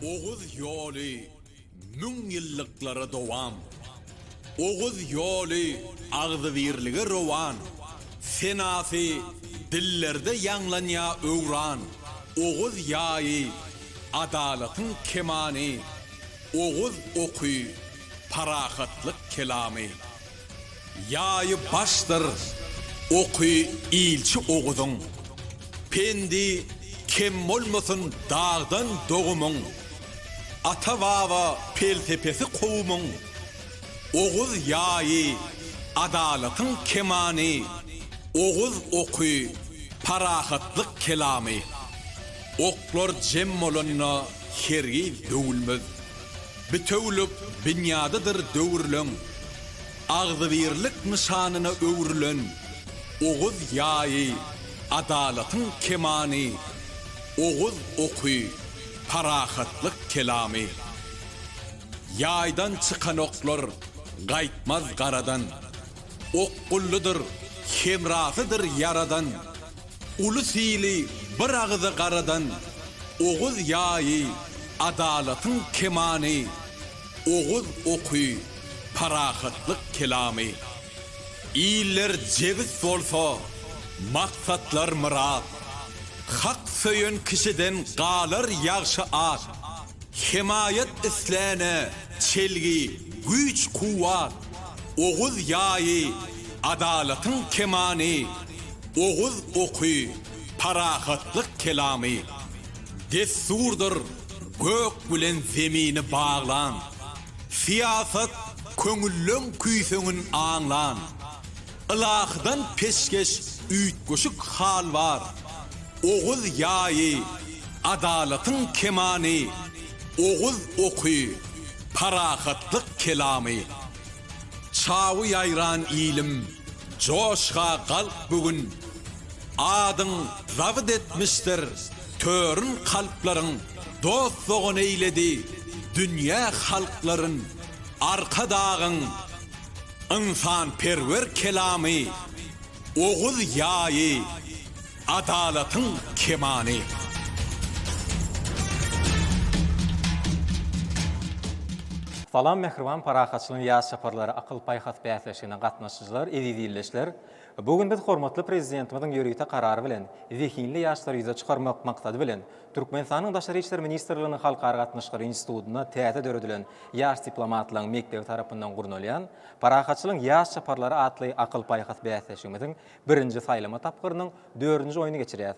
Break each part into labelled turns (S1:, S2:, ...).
S1: Oguz ýoly müň ýyllyklara dowam. Oguz ýoly agzybirlige rowan. Senasy dillerde ýaňlanýa öwran. Oguz ýaýy, adalatyň kemany. Oguz oky, parahatlyk kelamy. Ýaýy başdyr oky ilçi Oguzyň, Pendi kem bolmasyn dagdan dogumyň, Ata-baba pelsepesi kowumyň, Oguz ýaýy adalatyň kemany, Oguz oky parahatlyk kelamy. Oklar jem bolanda hergiz döwülmez. Bitewülik binýadydyr döwürleň agzybirlik nyşanyna öwrülen Oguz ýaýy, adalatyň kemany, Oguz oky, parahatlyk kelamy. Ýaýdan çykan oklar gaýtmaz garadan, Okgullydyr, hemrasydyr Ýaradan. Uly sili bir agyza garadan Oguz ýaýy, adalatyň kemany, Oguz oky, parahatlyk kelamy. Iller jebis bolsa, maksatlar myrat, Hak söýen kişiden galar ýagşy at. Hemaýat isläne çelgi, güýç-kuwwat, Oguz ýaýy, adalatyň kemany. oguz oky, parahatlyk kelamy, dessurdyr gök bilen zemini baglan, syýasat köňülleň küýseňin aňlan, ylahydan peşgeş üýtgeşik hal bar, oguz ýaýy, adalatyň kemany, oguz oky, parahatlyk kelamy. Çawy ýaýran ilim, Joşa galk bu gün, Adyň zabyt etmişdir törün Kalplaryň dost-dogan eýledi dünýä halklaryn Arkadagyň ynsanperwer kelamy Oguz ýaýy, Adalatyň kemany.
S2: Salam mähriban Parahatçylygyň ýaz çaparlary akyl-paýhas bäsleşigine gatnaşyjylar, eziz ildeşler! Bu gün biz hormatly Prezidentimiziň ýörite karary bilen zehinli ýaşlary ýüze çykarmak maksady bilen Türkmenistanyň Daşary işler ministrliginiň Halkara gatnaşyklary institutynda täze döredilen Ýaş diplomatlaryň mekdebi tarapyndan gurnalýan Parahatçylygyň ýaz çaparlary atly akyl-paýhas bäsleşigimiziň Birinji saýlama tapgyrynyň dördünji oýuny geçirýäs.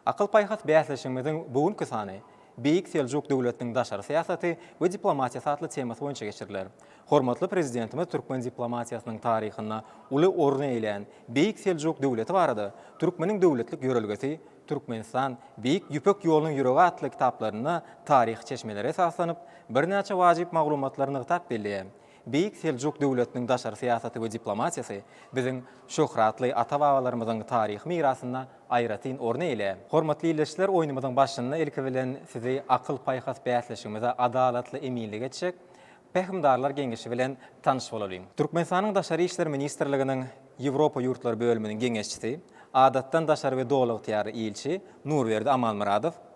S2: Akyl-paýhas bäsleşigimiziň bu günki sany Beýik Seljuk döwletiniň daşary syýasaty we diplomatiýasy atly temasy boýunça geçiriler. Hormatly Prezidentimiz türkmen diplomatiýasynyň taryhynda uly orun eýlän Beýik Seljuk döwleti barada Türkmeniň döwletlik ýörelgesi, Türkmenistan, Beýik Ýüpek ýolunyň ýüregi atly kitaplarynda taryhy çeşmelere esaslanyp, birnäçe wajyp maglumatlary nygtap belleýär. Beýik Seljuk döwletiniň daşary syýasaty we diplomatiýasy biziň şöhratly ata-babalarymyzyň taryhy mirasynda aýratyn orny eýle. Hormatly ildeşler, oýnumyzyň başynda ilki bilen sizi akyl-paýhas bäsleşigimize adalatly eminlik etjek Pähimdarlar geňeşi bilen tanyş bolalyň. Türkmenistanyň Daşary işler ministrliginiň Ýewropa ýurtlary bölüminiň geňeşçisi, Adatdan daşary we Doly ygtyýarly ilçi Nurberdi Amanmyradow,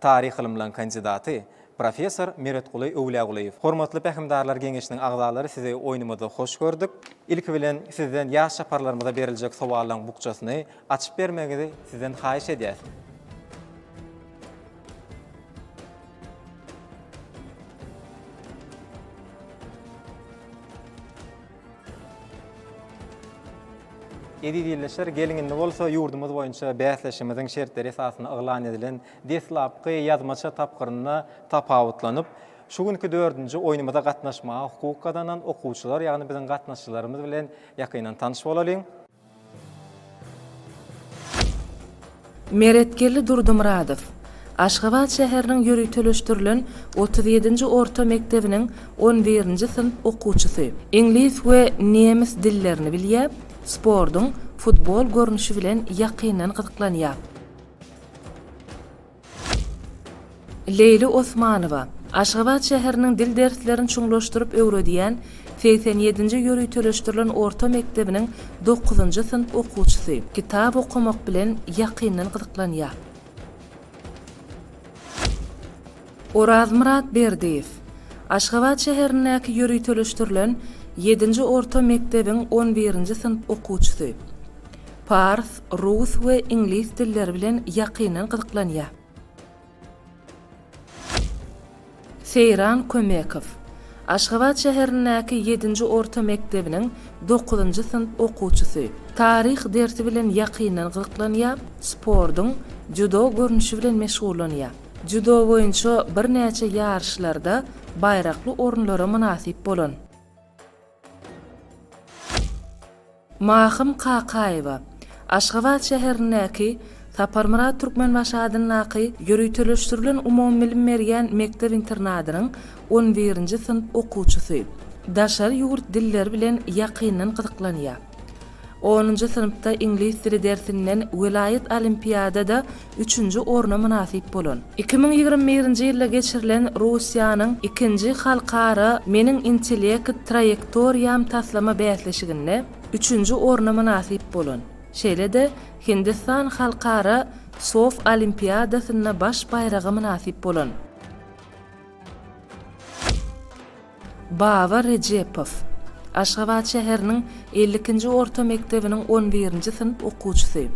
S2: Taryh ylymlaň kandidaty, professor Meretguly Öwlýagulyýew. Hormatly Pähimdarlar geňeşiniň agzalary sizi oýnumyzda hoş gördük. Ilki bilen sizden ýaş çaparlarymyza beriljek sowallaň bukjasyny açyp bermegiňizi sizden haýyş edýäs. Eziz ildeşler, geliň indi bolsa ýurdumyz boýunça bäsleşigimiziň şertleri esasynda yglan edilen deslapky ýazmaça tapgyrynda tapawutlanyp, şu günki dördünji oýnumyza gatnaşmaga hukuk gazanan okuwçylar, ýagny biziň gatnaşyjylarymyz bilen ýakyndan tanyş bolalyň.
S3: Meretgeldi Durdumyradow, Aşgabat şäheriniň ýöriteleşdirilen otuz ýedinji orta mekdebiniň on birinji synp okuwçysy. Iňlis we nemes dillerini bilýär, sportuň futbol görnüşi bilen ýakyndan gyzyklanýar. Leýli Osmanowa, Aşgabat şäheriniň dil derslerini çuňlaşdyryp öwredýän segsen ýedinji ýöriteleşdirilen orta mekdebiniň dokuzynjy synp okuwçysy. Kitap okamak bilen ýakyndan gyzyklanýar. Orazmyrat Berdiýew, Aşgabat şäherindäki ýöriteleşdirilen ýedinji orta mekdebiň on birinji synp okuwçysy. Pars, rus we iňlis dilleri bilen ýakyndan gyzyklanýar. Seýran Kömekow. Aşgabat şäherindäki ýedinji orta mekdebiniň dokuzynjy synp okuwçysy. Taryh dersi bilen ýakyndan gyzyklanýar, sportuň Dzýudo görnüşi bilen meşgullanýar. Dzýudo boýunça birnäçe ýaryşlarda baýrakly orunlara mynasyp bolan. Mahym Kakaýewa, Aşgabat şäherindäki Saparmyrat Türkmenbaşy adyndaky ýöriteleşdirilen umumybilim berýän mekdep-internadynyň on birinji synp okuwçysy. Daşary ýurt dilleri bilen ýakyndan gyzyklanýar. Onunjy synpda iňlis dili dersinden welaýat olimpiadada üçünji orna mynasyp bolan. Iki müň ýigrimi birinji ýylda geçirilen Russiýanyň ikinji halkara Meniň intellekt traýektoriýam taslama bäsleşiginde üçünji orna mynasyp bolan, şeýle-de Hindistan halkara sof olimpiadasynda baş baýraga mynasyp bolan. Baba Rejepow, Aşgabat şäheriniň elli ikinji orta mekdebiniň on birinji synp okuwçysy.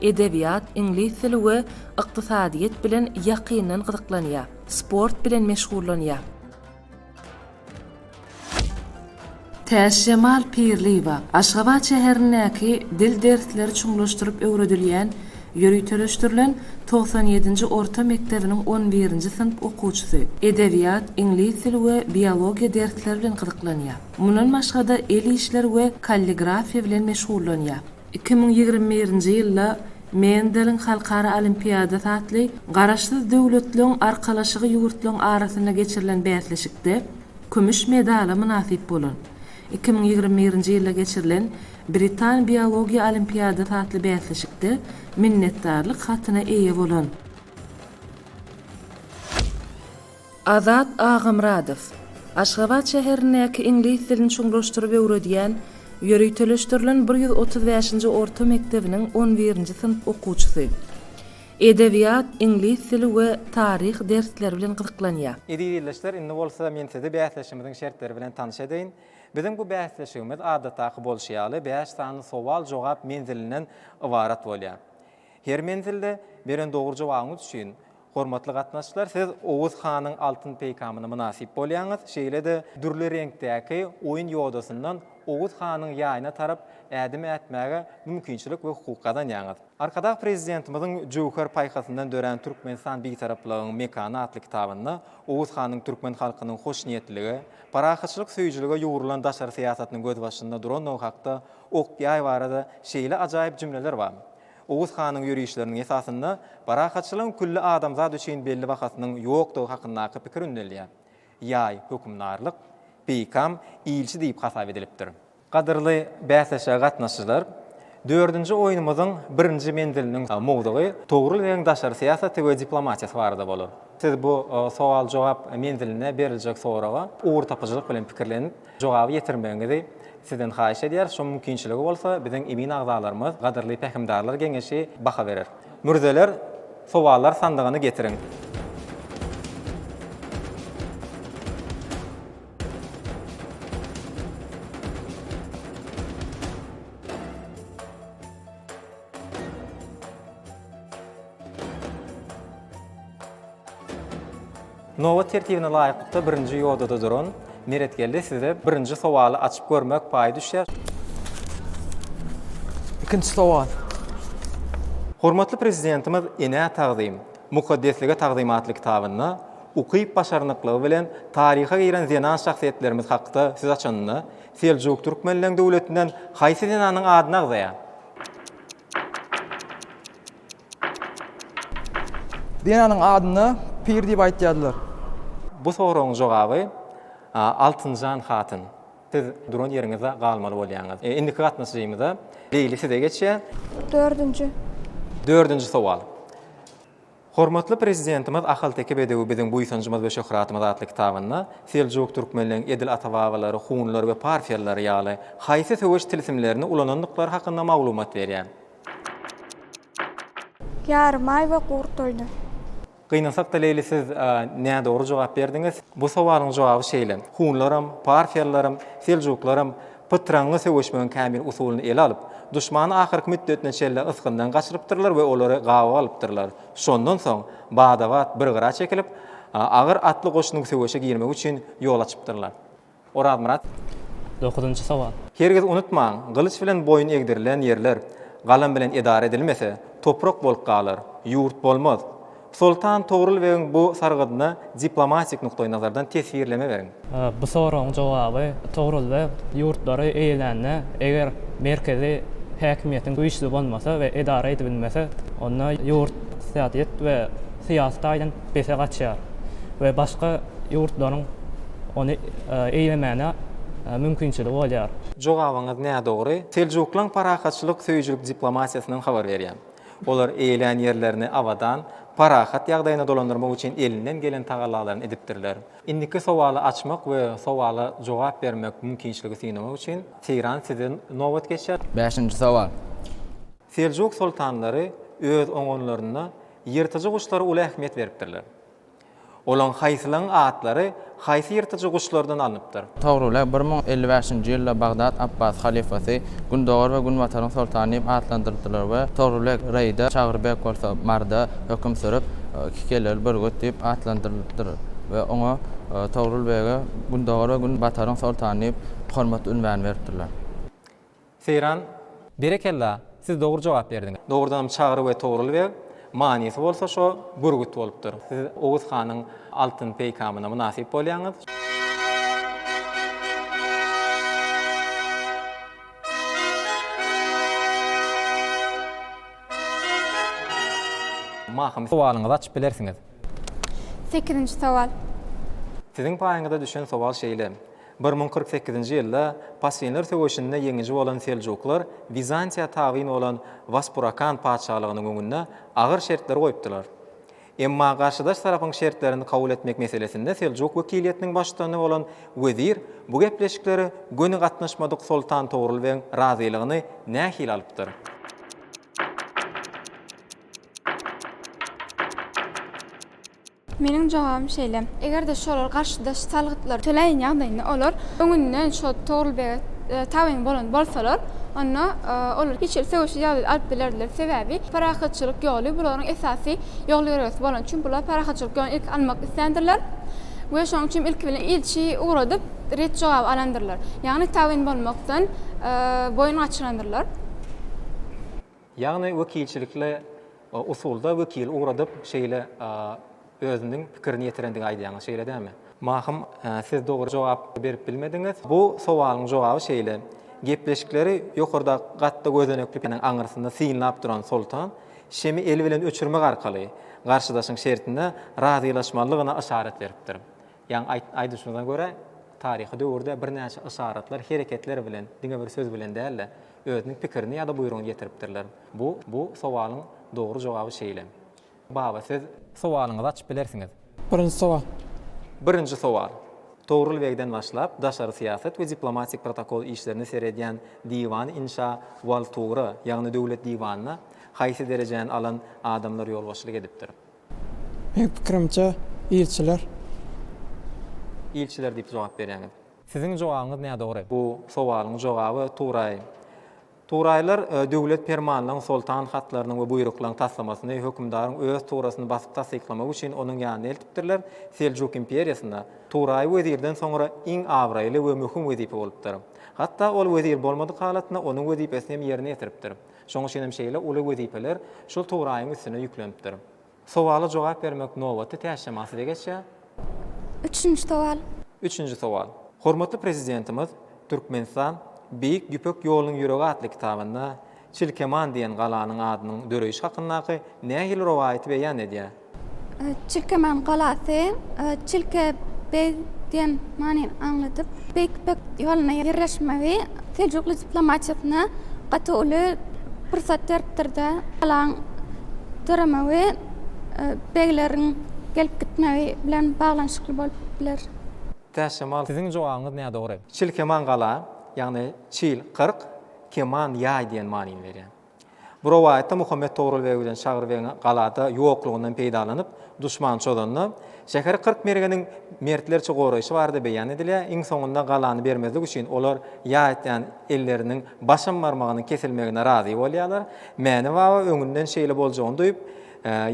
S3: Edebiýat, iňlis dili we ykdysadyýet bilen ýakyndan gyzyklanýar. Sport bilen meşgullanýar. Täçjemal Pirliýewa, Aşgabat şäherindäki dil dersleri çuňlaşdyryp öwredilýän Ýöriteleşdirilen togsan ýedinji orta mekdebiniň on birinji synp okuwçysy. Edebiýat, iňlis dili we biologiýa dersleri bilen gyzyklanýar. Mundan başga-da el işleri we kalligrafiýa bilen meşgullanýar. Iki müň ýigrimi birinji ýylda Mendeliň halkara olimpiadasy atly Garaşsyz döwletleriň arkalaşygy ýurtlaryň arasynda geçirilen bäsleşikde kümüş medala mynasyp bolan. Iki müň ýigrimi birinji ýylda geçirilen Britan biologiýa olimpiadasy atly bäsleşikde minnetdarlyk hatyna eýe bolan. Azat Agamyradow, Aşgabat şäherindäki iňlis dilini çuňlaşdyryp öwredýän, ýöriteleşdirilen bir ýüz otuz bäşinji orta mekdebiniň on birinji synp okuwçysy. Edebiýat, iňlis dili we taryh dersleri bilen gyzyklanýar. Eziz ildeşler, indi
S2: bolsa men sizi bäsleşigimiziň şertleri bilen tanyş edeýin. Biziň bu bäsleşigimiz adatdaky bolşy ýaly bäş sany sowal-jogap menzilinden ybarat bolýar. Her menzilde beren dogry jogabyňyz üçin, hormatly gatnaşyjylar, siz Oguz hanyň altyn peýkamyna mynasyp bolýaňyz, şeýle-de dürli reňkdäki oýun ýodasyndan Oguz hanyň ýaýyna tarap ädim ätmäge mümkinçilik we hukuk gazanýaňyz. Arkadag Prezidentimiziň Jöwher paýhasyndan dörän Türkmenistan Bitaraplygyň mekany atly kitabynda Oguz hanyň türkmen halkynyň hoşniýetlilige, parahatçylyk söýüjilige ýugrulan daşary syýasatynyň gözbaşynda durandygy hakda ok-ýaý barada şeýle ajaýyp jümleler bar, Oguz hanyň ýörişleriniň esasynda parahatçylygyň külli adamzat üçin belli bahasynyň ýokdugy hakyndaky pikir ündelýär. Ýaý, hökümdarlyk, peýkam, ilçi diýip hasap edilipdir. Gadyrly bäsleşige gatnaşyjylar! Dördünji oýnumyzyň birinji menziliniň mowzugy Togrul begiň daşary syýasaty we diplomatiýasy barada bolar. Siz bu sowal-jogap menzilinde beriljek soraga ugurtapyjylyk bilen pikirlenip, jogaby ýetirmegiňizi Sizden haýyş edýäris. Şoň mümkinçiligi bolsa, biziň emin agzalarymyz, gadyrly pähimdarlar geňeşi baha berer. Mürzeler, sowallar sandygyny getiriň! Nobat tertibine laýyklykda birinji ýodada duran Meretgeldi size birinji sowaly açyp görmek paýy düşýär.
S4: Ikinji sowal.
S2: Hormatly Prezidentimiz Enä tagzym, mukaddeslige tagzym atly kitabynda ukyp-başarnyklygy bilen taryha giren zenan şahsyýetlerimiz hakda söz açanda, Seljuk türkmenleň döwletinden haýsy zenanyň adyny agzaýar?
S4: Zenanyň adyna Pir diýip aýtýardylar.
S2: Bu soragyň jogaby Altynjan
S4: hatyn.
S2: Siz duran ýeriňizde galmaly bolýaňyz. Indiki gatnaşyjymyza Leýli size geçýär. Dördünji. Dördünji sowal. Hormatly Prezidentimiz Ahalteke bedewi biziň buýsanjymyz we şöhratymyz atly kitabynda Seljuk türkmenleriň edil ata-babalary hunlar we parfiýalylar ýaly haýsy söweş tilsimlerini ulanandyklary hakynda maglumat berýär.
S5: Ýarym aý we gurt toýda. Gynansakda
S2: Leýli siz nädogry jogap berdiňiz. Bu sowalyň jogaby şeýle, Hunlaram, parfiýalylaram, seljuklaram, pytraňňy söweşmegiň kämil usulyny ele alyp, duşmany ahyrky müddetine çenli ysgyndan gaçyrypdyrlar we olary gabaw alypdyrlar. Şondan soň, bada-bat bir gyra çekilip, agyr atly goşunyň söweşe girmegi üçin ýol açypdyrlar. Orazmyrat. Dokuzynjy
S6: sowal. Hergiz unutmaň,
S2: gylyç bilen boýun egdirilen ýerler galam bilen edara edilmese, toprak bolup galar, ýurt bolmaz. Soltan Togrul begiň bu sargydyna diplomatik nukdaýnazardan teswirleme beriň. Bu soragyň
S6: jogaby Togrul beg ýurtlary eýelände, eger merkezi häkimiýetiň güýçli bolmasa we edara edibilmese, onda ýurt ykdysadyýet we syýasy taýdan pese gaçýar we başga ýurtlaryň ony eýlemäne mümkinçiligi bolýar. Jogabyňyz nädogry.
S2: Seljuklaň parahatçylyk söýüjilik diplomatiýasyndan habar berýän. Olar eýlän ýerlerini abadan, parahat ýagdaýyna dolandyrmak üçin elinden gelen tagallalaryny edipdirler. Indiki sowaly açmak we sowala jogap bermek mümkinçiligi synamak üçin, Seýran size nobat geçýär. Bäşinji sowal.
S4: Seljuk
S2: soltanlary öz oňanlarynda ýyrtyjy guşlara uly ähmiýet beripdirler. Olaň haýsylaň atlary haýsy ýyrtyjy guşlardan alnypdyr? Togrule bir müň
S7: elli bäşinji ýylda Bagdat Apbas halyfasy, Gündogar we Günbataryň soltany diýip atlandyrdylar we Togrule Reýda, Çagry beg bolsa Marda höküm sürüp, Kikeleri bürgüt diýip atlandyrypdyr we oňa Togrul bege Gündogar we Günbataryň soltany diýip hormat ünwany beripdirler. Seýran.
S2: Berekella, siz dogry jogap berdiňiz. Dogrudanam Çagry we Togrul beg, manysy bolsa şo, bürgüt bolupdyr. Siz Oguz hanyň altyn peýkamyna mynasyp bolýaňyz. Mahym sowalyňyzy açyp bilersiňiz.
S5: Sekizinji sowal. Siziň
S2: paýyňyza düşen sowal şeýle, Bir müň kyrk sekizinji ýylda Paswinler söweşinde ýeňiji bolan Seljuklar Wizantiýa tabyn bolan Waspurakan patyşalygynyň öňünde agyr şertler goýupdylar. Emma garşydaş tarapyň şertlerini kabul etmek meselesinde Seljuk wekiliýetiniň baştutany bolan wezir bu gepleşiklere göni gatnaşmadyk Soltan Togrul begiň razylygyny nähili alypdyr?
S5: Meniň jogabym şeýle, eger-de şolar garşydaş salgytlary töläýen ýagdaýynda olar öňünden şo Togrul bege tabyn bolan bolsalar, onda olar hiç hili söweşli ýagdaýda alyp bilerdiler, sebäbi parahatçylyk ýoly bu laryň esasy ýol-ýörelgesi bolan üçin bular parahatçylyk ýoluny ilki almak isländirler we şonuň üçin ilki bilen ilçi ugradyp ret jogaby alandyrlar, ýagny tabyn bolmakdan boýun gaçyrandyrlar. Ýagny
S2: wekilçilikli usulda wekili ugradyp şeýle özüniň pikirini ýetirendigi aýdýaňyz şeýle dämi? Mahym siz dogry jogap berip bilmediňiz. Bu sowalyň jogaby şeýle, gepleşikleri ýokarda gatda gözenekli perdäniň aňyrsynda synlap duran Soltan şemi eli bilen öçürmek arkaly garşydaşyň şertine razylaşmalygyna yşarat beripdir. Ýaňy aýt, aýdyşyňyza görä, taryhy döwürde birnäçe yşaratlar, hereketler bilen, diňe bir söz bilen däl-de, özüniň pikirini ýa-da buýrugyny ýetiripdirler. Bu, bu sowalyň dogry jogaby şeýle. Baba, siz. Sowalyňyzy açyp bilersiňiz. Birinji sowal.
S4: Birinji
S2: sowal. Togrul begden başlap, daşary syýasat we diplomatik protokol işlerine seredýän Diwan inşa wal tura, ýagny Döwlet diwanyna haýsy derejäni alan adamlar ýolbaşçylyk edipdir? Meň
S4: pikirimçe ilçiler.
S2: Ilçiler diýip jogap berýäňiz. Siziň jogabyňyz nädogry. Bu sowalyň jogaby Turaý. Turaýlar döwlet permanlaryň, soltan hatlarynyň we buýruklaryň taslamasyny, hökümdaryň öz turasyny basyp tassyklamagy üçin onuň ýanyna eltipdirler. Seljuk imperiýasynda Turaý wezirden soňra iň abraýly we möhüm wezipe bolupdyr. Hatda ol wezir bolmadyk halatynda onuň wezipesini hem ýerine ýetiripdir. Şoň üçin hem şeýle uly wezipeler şol Turaýyň üstüne ýüklenipdir. Sowala jogap bermek nobaty tä şema size geçýär. Üçünji
S5: sowal. Üçünji sowal.
S2: Hormatly Prezidentimiz Türkmenistan, Beýik Ýüpek ýolunyň ýüregi atly kitabynda Çilkeman diýen galanyň adynyň döreýşi hakyndaky nähili rowaýaty beýan edýär?
S5: Çilkemäň galasy, Çilke beg diýen manyny aňladyp, Beýik Ýüpek ýoluna ýerleşmegi seljukly diplomatiýasyna gaty uly pursat beripdir-de, galaň döremegi begleriň gelip gitmegi bilen baglanyşykly bolup biler. Täşemal,
S2: siziň jogabyňyz nädogry. Çilkemäň gala, ýagny çil, kyrk, keman, ýaý diýen manyny berýär. Bu rowaýatda Muhammet Togrul beg bilen Çagry begiň galada ýoklugyndan peýdalanyp, duşman çozanda, şäheri kyrk mergeniň mertlerçe goraýşy barada beýan edilýär. Iň soňunda galany bermezlik üçin olar ýaýtýan elleriniň başam barmagynyň kesilmegine razy bolýarlar. Mäne baba öňünden şeýle boljagyny duýup,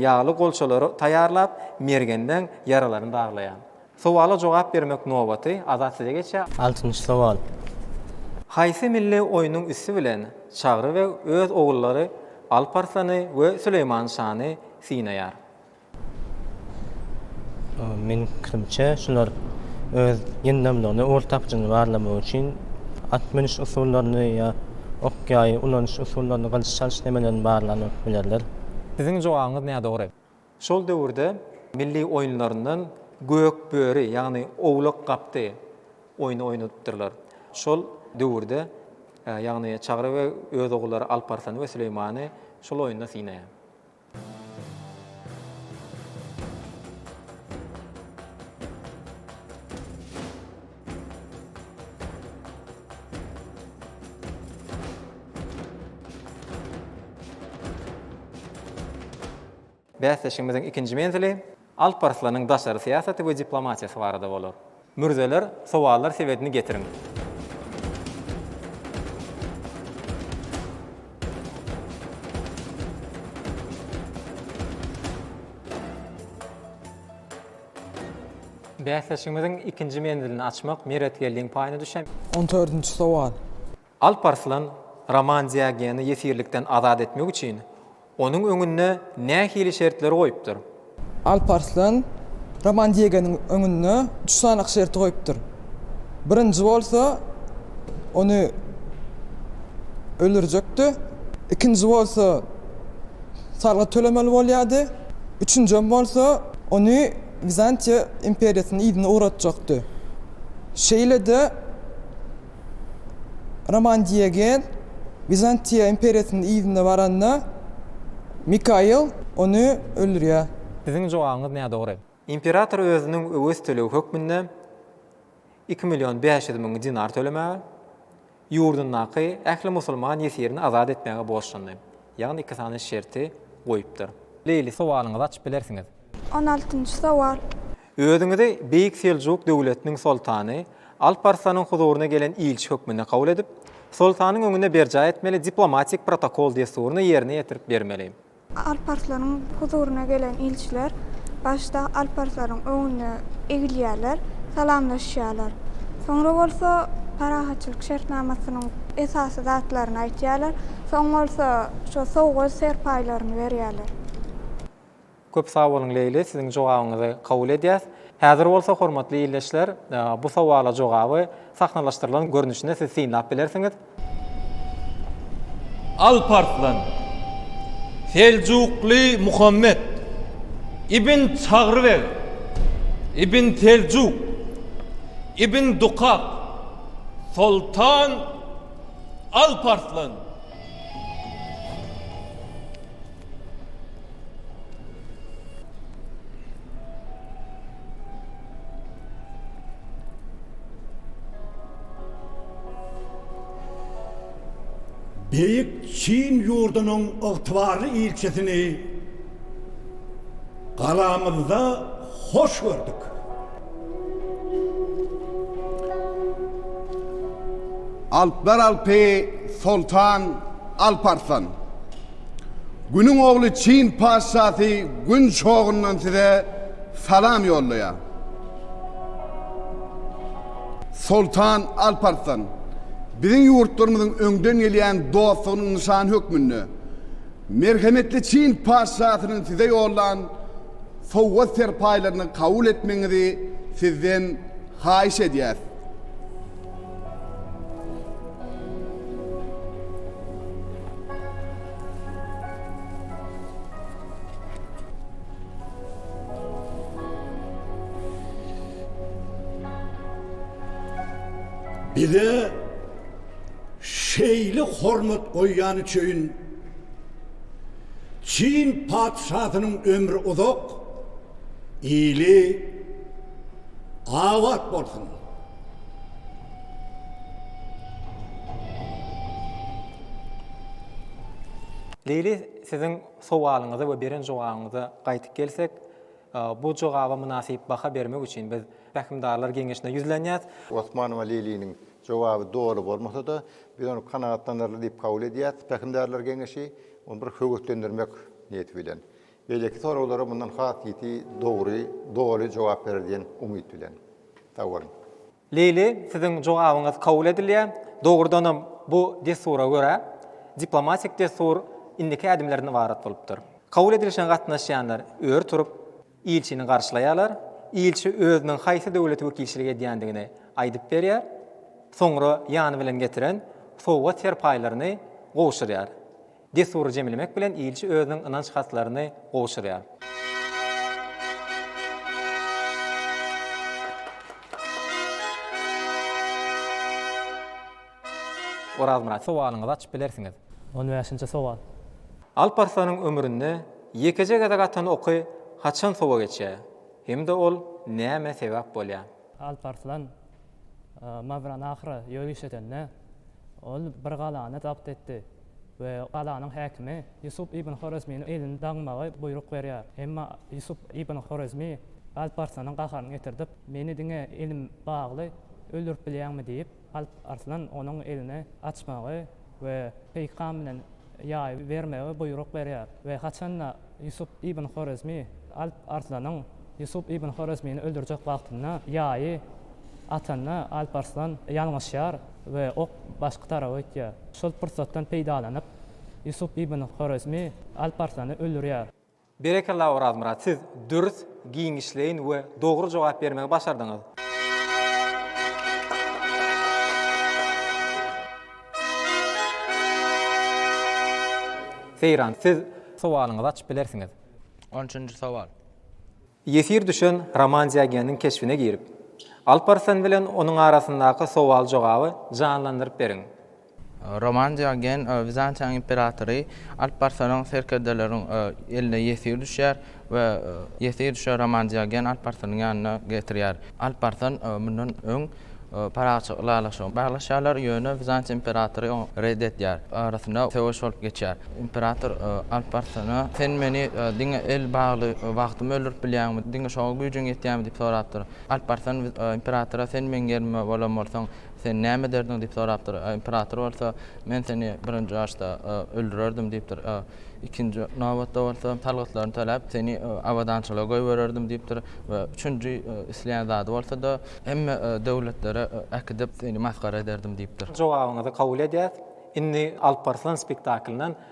S2: ýagly golçalary taýýarlap, mergenden ýaralaryny darlaýar. Sowala jogap bermek nobaty Azat size geçýär. Altynjy sowal.
S6: Haýsy
S2: milli oýnuň üsti bilen Çagry beg öz ogullary Alp Arslany we Süleýman şany synaýar?
S6: Meniň pikirimçe, şular öz ýyndamlygyny, ugur tapjyny barlamak üçin at münüş usullaryny ýa ok-ýaý ulanyş usullaryny, gylyç çalyş nemelerini barlanyp bilerler. Siziň jogabyňyz
S2: nädogry. Şol döwürde milli oýunlaryndan Gök böri, ýagny Owlak gapdy oýny oýnadypdyrlar. Şol döwürde, ýagny Çagry beg öz ogullary Alp Arslany we Süleýmany şol oýunda synaýar. Bäsleşigimiziň ikinji menzili Alp Arslanyň daşary syýasaty we diplomatiýasy barada bolar. Mürzeler, sowallar sebedini getiriň! Bäsleşigimiziň ikinji menzilini açmak Meretgeldiň paýyna düşen. On dördünji sowal.
S4: Alp Arslan
S2: Roman Diogeni ýesirlikden azat etmek üçin onuň öňünde nähili şertleri goýupdyr? Alp Arslan
S4: Roman Diogeniň öňünde üç sany şerti goýupdyr. Birinji bolsa, ony öldürjekdi. Ikinji bolsa, salgyt tölemeli bolýardy. Üçünjem bolsa, ony. Wizantiýa imperiýasyny yzyna ugratjakdy. Şeýle-de Roman Diogen Wizantiýa imperiýasynyň yzyna baranda, Mikail ony öldürýär. Siziň jogabyňyz
S2: nädogry. Imperator özüniň öwez töleg hökmünde iki million bäş ýüz müň dinar tölemäge, ýurdundaky ähli musulman ýesirini azat etmäge borçlandy. Ýagny iki sany şerti goýupdyr. Leýli sowalyňyzy açyp bilersiňiz. On altynjy
S5: sowal. Özüňizi
S2: Beýik Seljuk döwletiniň soltany Alp Arslanyň huzuryna gelen ilçi hökmünde kabul edip, soltanyň öňünde berjaý etmeli diplomatik protokol desturyny ýerine ýetirip bermeli. Alparslaryň
S5: huzuryna gelen ilçiler başda alparslaryň öňünde egilýärler, salamlaşýarlar. Soňra bolsa parahatçylyk şertnamasynyň esasy zatlaryny aýtýarlar, soň bolsa şo sowgat-serpaýlaryny berýärler.
S2: Köp sag boluň Leýli, siziň jogabyňyzy kabul edýäs. Häzir bolsa hormatly ildeşler, bu sowala jogaby sahnalaşdyrylan görnüşinde siz synlap bilersiňiz.
S8: Alp Arslan, Seljukly Muhammet, Ibn Çagry beg, Ibn Seljuk, Ibn Dukak, Soltan Alp Arslan.
S9: Beýik Çin ýurdunyň ygtybarly ilçisini galamyzda hoş gördük.
S10: Alplar Alpy Soltan Alp Arslan. Günüň ogly Çin patyşasy Gün çogundan size salam ýollaýar. Soltan Alparslan, biziň ýurtlarymyzyň öňden gelýän dostlugynyň nyşany hökmünde, merhemetli Çin patyşasynyň size ýollan sowgat-serpaýlaryny kabul etmegiňizi sizden haýyş edýäs.
S9: Bize şeýle hormat goýýany üçin Çyn patyşasynyň ömri uzak, ili abat bolsun!
S2: Leýli siziň sowalyňyza we beren jogabyňyza gaýtyp gelsek, bu jogaba mynasyp baha bermek üçin biz Pähimdarlar geňeşine ýüzlenýäs. Osmanowa Leýliniň
S11: jogaby doly bolmasa-da, biz ony kanagatlanarly diýip kabul edýäs, Pähimdarlar geňeşi ony bir höweslendirmek niýeti bilen Beýleki soraglara mundan has ýiti, dogry, doly jogap berer diýen umyt bilen. Sag boluň! Lili,
S2: siziň jogabyňyz kabul edilýär. Dogrudanam, bu dessura görä, diplomatik dessur indiki ädimlerden ybarat bolupdyr. Kabul edilişine gatnaşýanlar ör turup, ilçini garşylaýarlar. Ilçi özüniň haýsy döwlete wekilçilik edýändigini aýdyp berýär. Soňra ýany bilen getiren sowgat-serpaýlaryny gowşurýar. Dessury jemlemek bilen ilçi özüniň ynanç hatlaryny gowşurýar. Orazmyrat. Sowalyňyzy açyp bilersiňiz. On bäşinji sowal.
S6: Alp Arslanyň
S2: ömründe ýekeje gezek atan oky haçan sowa geçýär hem-de ol nämä sebäp bolýar? Alp Arslan
S6: Mawranahra ýöriş edende, ol bir galany zabt etdi we galanyň häkimi Ýusup ibn Horezminiň elini daňmagy buýruk berýär. Emma Ýusup ibn Horezmi Alp Arslanyň gaharyny getirdip, Meni diňe elim bagly öldürip bilýäňmi? diýip, Alp Arslan onuň elini açmagy we peýkam bilen ýaýy bermegi buýruk berýär we haçan-da Ýusup ibn Horezmi Alp Arslanyň Ýusup ibn Horezmini öldürjek wagtynda ýaýy atanda Alp Arslan ýalňyşýar we ok başga tarapa gitýär. Şol pursatdan peýdalanyp Ýusup ibn Horezmi Alp Arslany öldürýär. Berekella
S2: Orazmyrat siz dürs, giňişleýin we dogry jogap bermegi başardyňyz. Seýran siz sowalyňyzy açyp bilersiňiz. On üçünji
S7: sowal. Ýesir
S2: düşen roman Diogeniň keşbine girip, Alparslan bilen onuň arasyndaky sowal-jogaby janlandyryp beriň. Roman
S7: Diogen Wizantiýanyň imperatory alyp barsaryň serkerdeleriň eline ýesir düşýär we ýesir düşen Roman Diogen alyp barsaryň ýanyna getirýär. Alyp barsan mundan öň parahatçylyk ylalaşygyny baglaşýarlar, ýöne Wizantiýa imperatory oňa red edýär. Arasynda söweş bolup geçýär. Imperator alyp barsana sen meni diňe el bagly wagtym öldürip bilýäňmi, diňe şoňa güýjüň ýetýärmi diýip sorapdyr. Alyp barsan imperatora sen meň ýerimde bolan bolsaň, Sen näme ederdiň? diýip sorapdyr. Imperator bolsa, Men seni birinji başda öldürerdim diýipdir. Ikinji nobatda bolsa, salgytlaryny töläp, seni abadançylyga goýbererdim diýipdir we üçünji isleýän zady bolsa-da, hemme döwletlere äkidip, seni masgara ederdim diýipdir. Jogabyňyzy kabul
S2: edýäs. Indi Alparslan spektaklynyň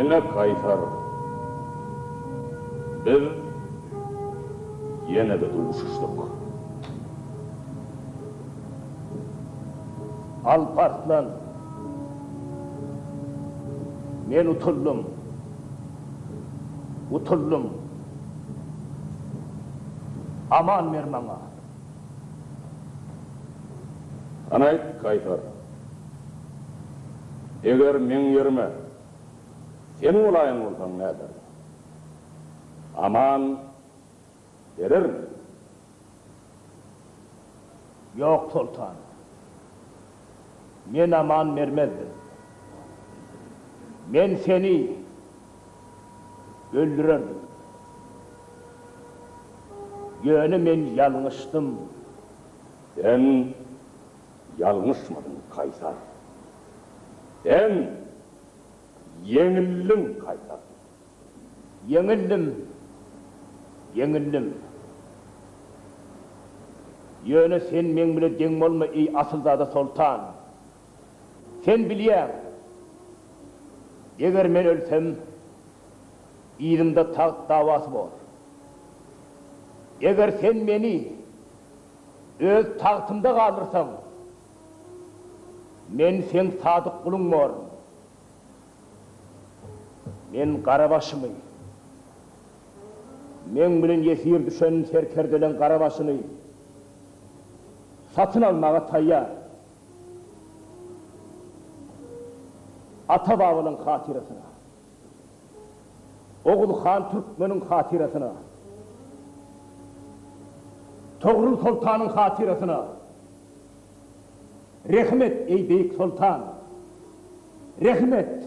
S12: Ine, Kaýsar, biz ýene-de duşuşdyk. Alp Arslan, men utuldym, utuldym. Aman ber maňa. Hanaý, Kaýsar? Eger meň ýerime sen bolaýan bolsaň nädersiň? Aman berermiň? Ýok, soltan. Men aman bermezdim. Men seni öldürerdim. Ýöne men ýalňyşdym. Sen Ýalňyşmadyň Kaýsar. Sen ýeňildiň Kaýsar. Ýeňildim, ýeňildim. Ýöne sen meň bile deň bolma eý asylzada soltan. Sen bilýäň, eger men ölsem, yzymda tagt dawasy bor. Eger sen meni. Öz tagtymda galyrsaň, men seň sadyk guluň borun. Men Garabaşymy, meň bilen ýesir düşen serkerdeleň garabaşyny satyn almaga taýýar. Ata-babalaň hatyrasyna. Oguz han Türkmeniň hatyrasyna, Togrul soltanyň hatyrasyna rehim et, eý beýik soltan, rehim et!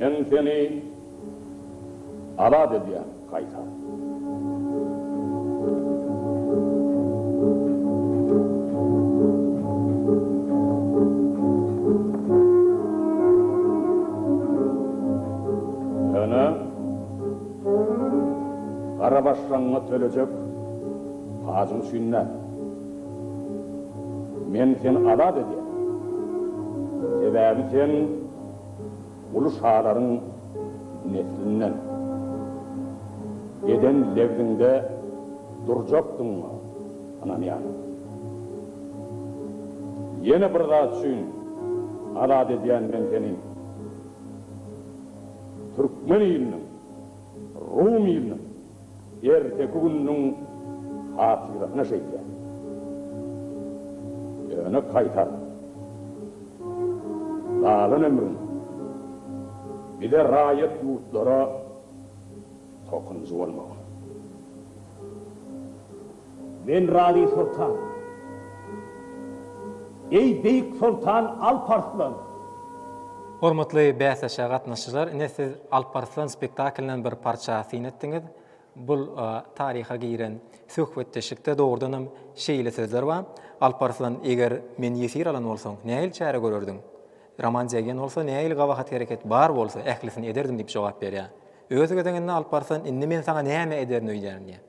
S12: Men seni azat edýän gaýtam. Ýöne gara başlaňňa tölejek pajyň üçin däl. Men seni azat edýän. Sebäbi sen. Uly şalaryň neslinden. Eden lebziňde durjakdygyňa ynanýaryn. Ýene bir zat üçin azat edýän men seni. Türkmen iliniň, Rum iliniň. Erteki gününiň hatyrasyna şeýle ýöne gaýtar. Galan ömrüň bize raýat ýurtlara tokunjy bolmaga. Men razy soltan. Eý beýik soltan Alp Arslan!
S2: Hormatly bäsleşige gatnaşyjylar, ine siz Alp Arslan spektaklynyň bir parça syn etdiňiz. Bul taryha giren söhbetdeşlikde dogrudan hem şeýle sözler bar, Alp Arslan eger meni ýesir alan bolsaň, nähili çäre görerdiň? Roman Jeggen bolsa nähili gabahat hereket bar bolsa ählisini ederdim diýip jogap berýär. Öz gezeginde Alp Arslan indi men saňa näme ederin öýdýärin diýär.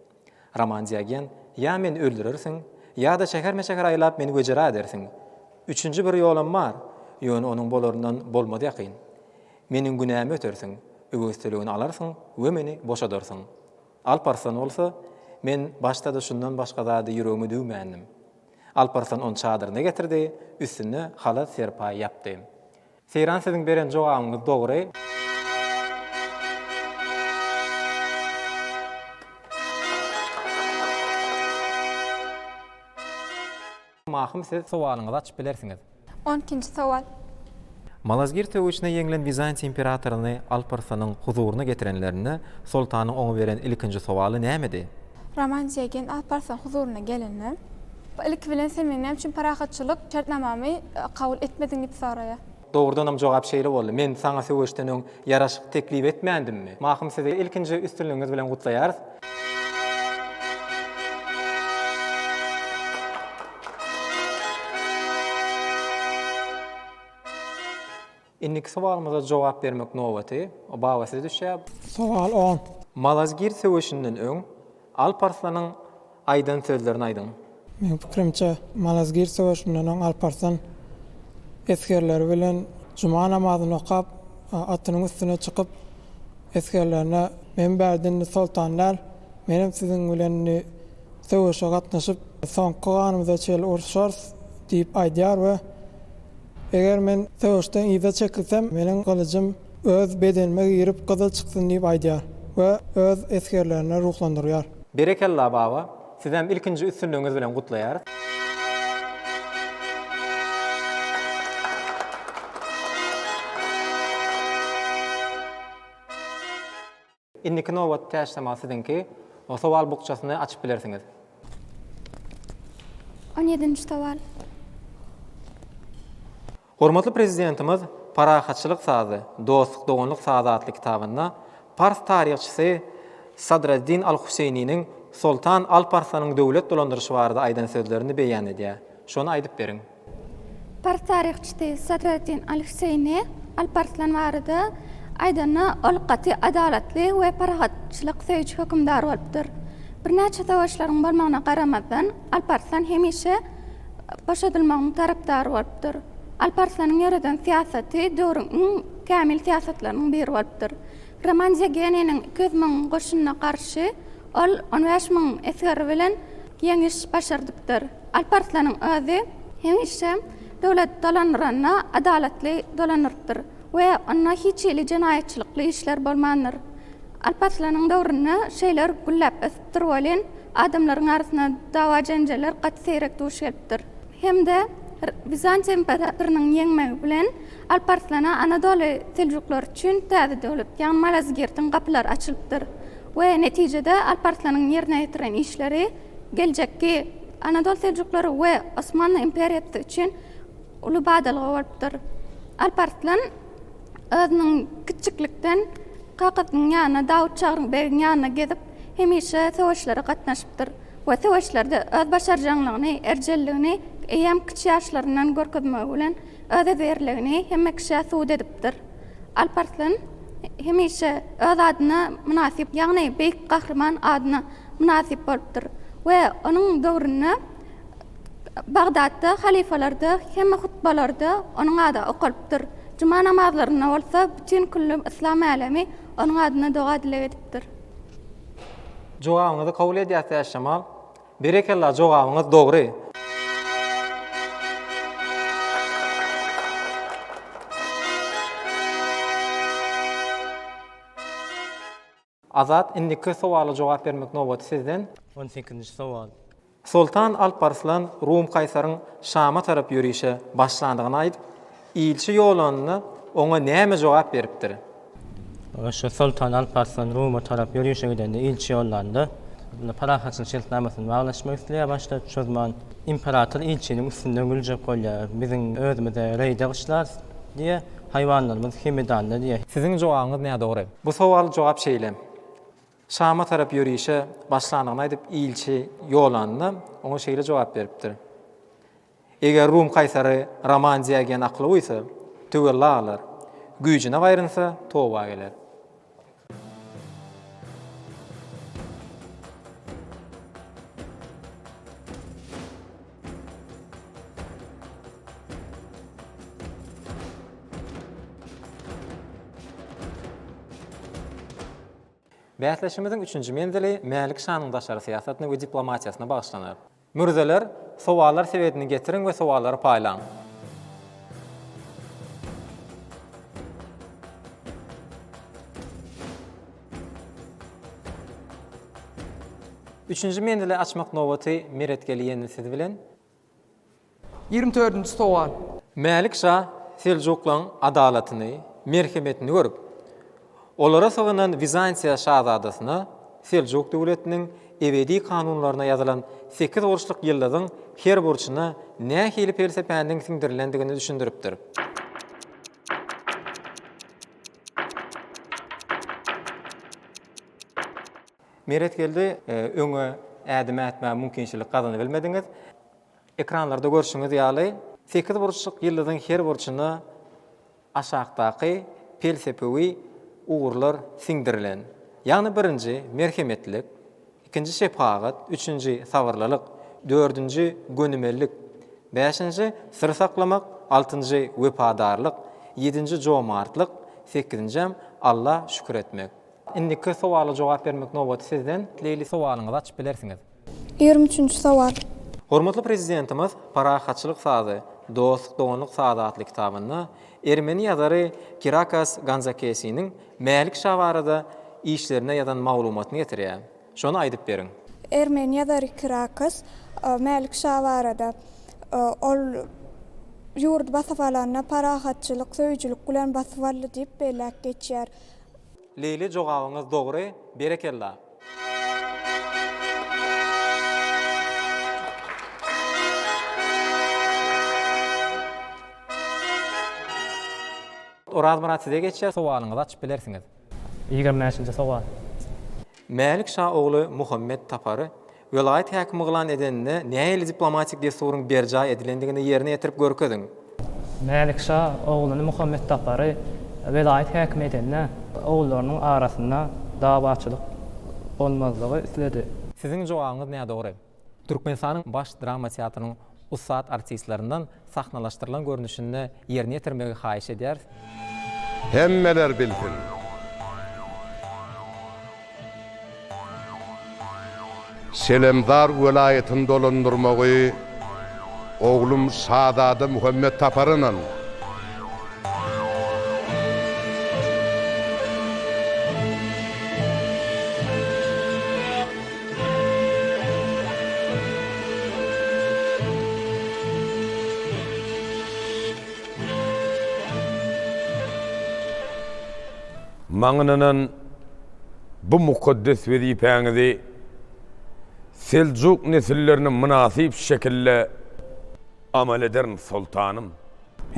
S2: Roman Diogen, Ýa meni öldürersiň, ýa-da şäherme-şäher aýlap meni wejera edersiň. Üçünji bir ýolam bar, ýöne onuň bolaryndan bolmaz ýakyn. Meniň günämi ötersiň, öwezçiligini alarsyň we meni boşadarsyň. Alp Arslan bolsa, Men başda-da şundan başga zady ýüregime düwmändim. Alp Arslan ony çadyryna getirdi, üstüne halat-serpaý ýapdy. Seýran siziň beren jogabyňyz dogry. Mahym siz sowalyňyzy açyp bilersiňiz. On ikinji sowal.
S5: Malazgirt
S2: söweşine ýeňlen Bizantiýa imperatoryny Alparsynyň huzuryna getirenlerinde Soltanyň oňa beren ilkinji sowaly nämedi? Roman Jeýgen
S5: Alparsoň huzuryna gelende, ilki bilen sen meň näme üçin parahatçylyk şertnamamy kabul etmediň diýip soraýar. Dogrudanam jogap
S2: şeýle boldy, Men saňa söweşden öň ýaraşyk teklip etmändimmi? Mahym sizi ilkinji üstünligiňiz bilen gutlaýarys. Indiki sowalymyza jogap bermek nobaty Baba size düşýä. Sowal on.
S4: Malazgirt
S2: söweşinden öň Alp Arslanyň aýdan sözlerini aýdyň. Meň pikirimçe,
S4: Malazgirt söweşinden öň Alp Arslan esgerleri bilen juma namazyny okap, atynyň üstüne çykyp, esgerlerine Men bärde indi soltan däl, menem siziň bilen indi söweşe gatnaşyp, soňky ganymyza çenli uruşarys diýip aýdýar we, Eger men söweşden yza çekilsem, meniň gylyjym öz bedenime girip gyzyl çyksyn diýip aýdýar we öz esgerlerini ruhlandyrýar. Berekella baba,
S2: sizem ilkinji üstünligiňiz bilen gutlaýarys. Indiki nobat täşlama siziňki. Sowal bukjasyny açyp bilersiňiz.
S5: On ýedinji sowal.
S2: Hormatly Prezidentimiz Parahatçylyk sazy, dostluk-doganlyk sazy atly kitabynda pars taryhçysy Sadreddin al-Huseýniniň Soltan Alparslanyň döwlet dolandyryşy barada aýdan sözlerini beýan edýär. Şony aýdyp beriň. Pars
S5: taryhçysy Sadreddin al-Hüseýni Alparslan barada aýdanda, ol gaty adalatly we parahatçylyk söýüji hökümdar bolupdyr. Birnäçe söweşleriň bolmagyna garamazdan, Alparslan hemişe boşadylmagyň tarapdary bolupdyr. Alparslanyň ýöreden syýasaty döwrüň iň kämil syýasatlarynyň biri bolupdyr. Roman Zegeniniň iki ýüz müň goşunyna garşy ol on bäş müň esgeri bilen Ýeňiş başardypdyr. Alp Arslanyň özi hemişe döwlet dolandyranda adalatly dolandyrypdyr we onda hiç hili jenaýatçylykly işler bolmandyr. Alp Arslanyň döwründe şeýler gülläp ösüpdir welin, adamlaryň arasynda dawa-jenjeller gaty seýrek duş gelipdir. Hem-de Bizans imperatorynyň ýeňmegi bilen Alp Arslana Anadoly Seljuklary üçin täze döwlet, ýagny Malazgirtiň gapylary açylypdyr. we netijede Alp Arslanyň ýerine ýetiren işleri geljekki Anadol Seljuklary we Osmanly imperiýasy üçin uly badalga bolupdyr. Alp Arslan özüniň kiçjiklikden kakasynyň ýanyna Dawut Çagryň begiň ýanyna gezip, hemişe söweşlere gatnaşypdyr we söweşlerde öz başarjaňlygyny, erjelligini eýýäm kiçi ýaşlaryndan görkezmegi bilen özezerligini hemme kişä subut edipdir. Alp Arslan hemişe öz adyna mynasyp, ýagny Beýik Gahryman adyna mynasyp bolupdyr we onuň döwründe Bagdatda halyfalarda hemme hutbalarda onuň ady okalypdyr. Juma namazlarynda bolsa bütin külli yslam älemi onuň adyna doga-dileg edipdir. Jogabyňyzy
S2: kabul edýäs Täçjemal. Berekella jogabyňyz dogry. Azat indiki sowala jogap bermek nobaty sizden. On sekizinji sowal.
S6: Soltan
S2: Alparslan Rum Kaýsaryň Şama tarap ýörişe başlandygyny aýdyp, Ilçi ýolanyna oňa näme jogap beripdir? Aşyr
S6: soltan Alp Arslan Ruma tarap ýörişe gidende ilçi ýollandy. Onda parahatçylyk şertnamasyny baglaşmak isleýär başda Çozman. Imperator ilçiniň üstünden güljek bolýar. Biziň özümize reýde gyşlarys diýýär. Haýwanlarymyz Hemedanda diýýär. Siziň jogabyňyz nädogry.
S2: Bu sowal jogap şeýle. Şama tarap ýörişe başlandygyny aýdyp ilçi ýolanyna oňa şeýle jogap beripdir. Eger Rum kaýsary Roman Diogen akly buýsa, töwella galar, güýjüne gaýrynsa, toba geler. Bäsleşigimiziň üçünji menzili Mälik şanyň daşary syýasatyna we diplomatiýasyna bagyşlanar. Mürzeler, sowallar sebedini getiriň we sowallary paýlaň. Üçünji menzili açmak nobaty Meret Geliýendi siz bilen. Ýigrimi dördünji
S13: sowal. Mälik şa
S2: seljuklaň adalatyny, merhemetini görüp. Olara sygynan Wizantiýa şazadasyna Seljuk döwletiniň ebedi kanunlaryna ýazylan sekiz burçluk ýyldyzyň her burçuna nähili pelsepäniň siňdirilendigini düşündiripdir. Meretgeldi, öňe ädim ätmäge mümkinçilik gazanybilmediňiz. Ekranlarda görşüňiz ýaly, sekiz burçluk ýyldyzyň her burçuna aşakdaky pelsepewi ugurlar siňdirilen, ýagny birinji, merhemetlik, ikinji, şephagat, üçünji, sabyrlylyk, dördünji, gönümellik, bäşinji, syr saklamak, altynjy, wepadarlyk, ýedinji, jomartlyk, sekizinjäm, Alla şükür etmek. Indiki sowala jogap bermek nobaty sizden. Leýli sowalyňyzy açyp bilersiňiz. Ýigrimi üçünji
S5: sowal. Hormatly
S2: Prezidentimiz Parahatçylyk sazy, dostluk-doganlyk sazy atly kitabynda ermeni ýazary Kirakas Ganzakesiniň Mälik şa barada işlerinde ýazan maglumatyny getirýär. Şony aýdyp beriň. Ermeni ýazary
S14: Kirakos Mälik şa barada, Ol ýurdy basyp alanda parahatçylyk söýüjilik bilen basyp aldy diýip belläp geçýär. Leýli
S2: jogabyňyz dogry, berekella.
S6: Orazmyrat size
S2: geçýär. Sowalyňyzy açyp bilersiňiz.
S6: Ýigrimi bäşinji
S2: sowal. Mälik şa ogly Muhammet Tapary welaýat häkimi yglan edeninde nähili diplomatik dessuryň berjaý edilendigini ýerine ýetirip görkeziň. Mälik
S6: şa ogluny Muhammet Tapary welaýat häkimi edende ogullarynyň arasynda dawaçylyk bolmazlygy isledi. Siziň jogabyňyz
S2: nädogry. Türkmenistanyň Baş drama teatrynyň ussat artistlerinden sahnalaşdyrylan görnüşinde ýerine ýetirmegi haýyş edýäris. Hemmeler
S13: bilsin! Şelemzar welaýatyny dolandyrmagy oglum Şazada Muhammet tapar ynan! Maňa ynanan bu mukaddes wezipäňizi seljuk nesillerine mynasyp şekilde amal ederin, soltanym.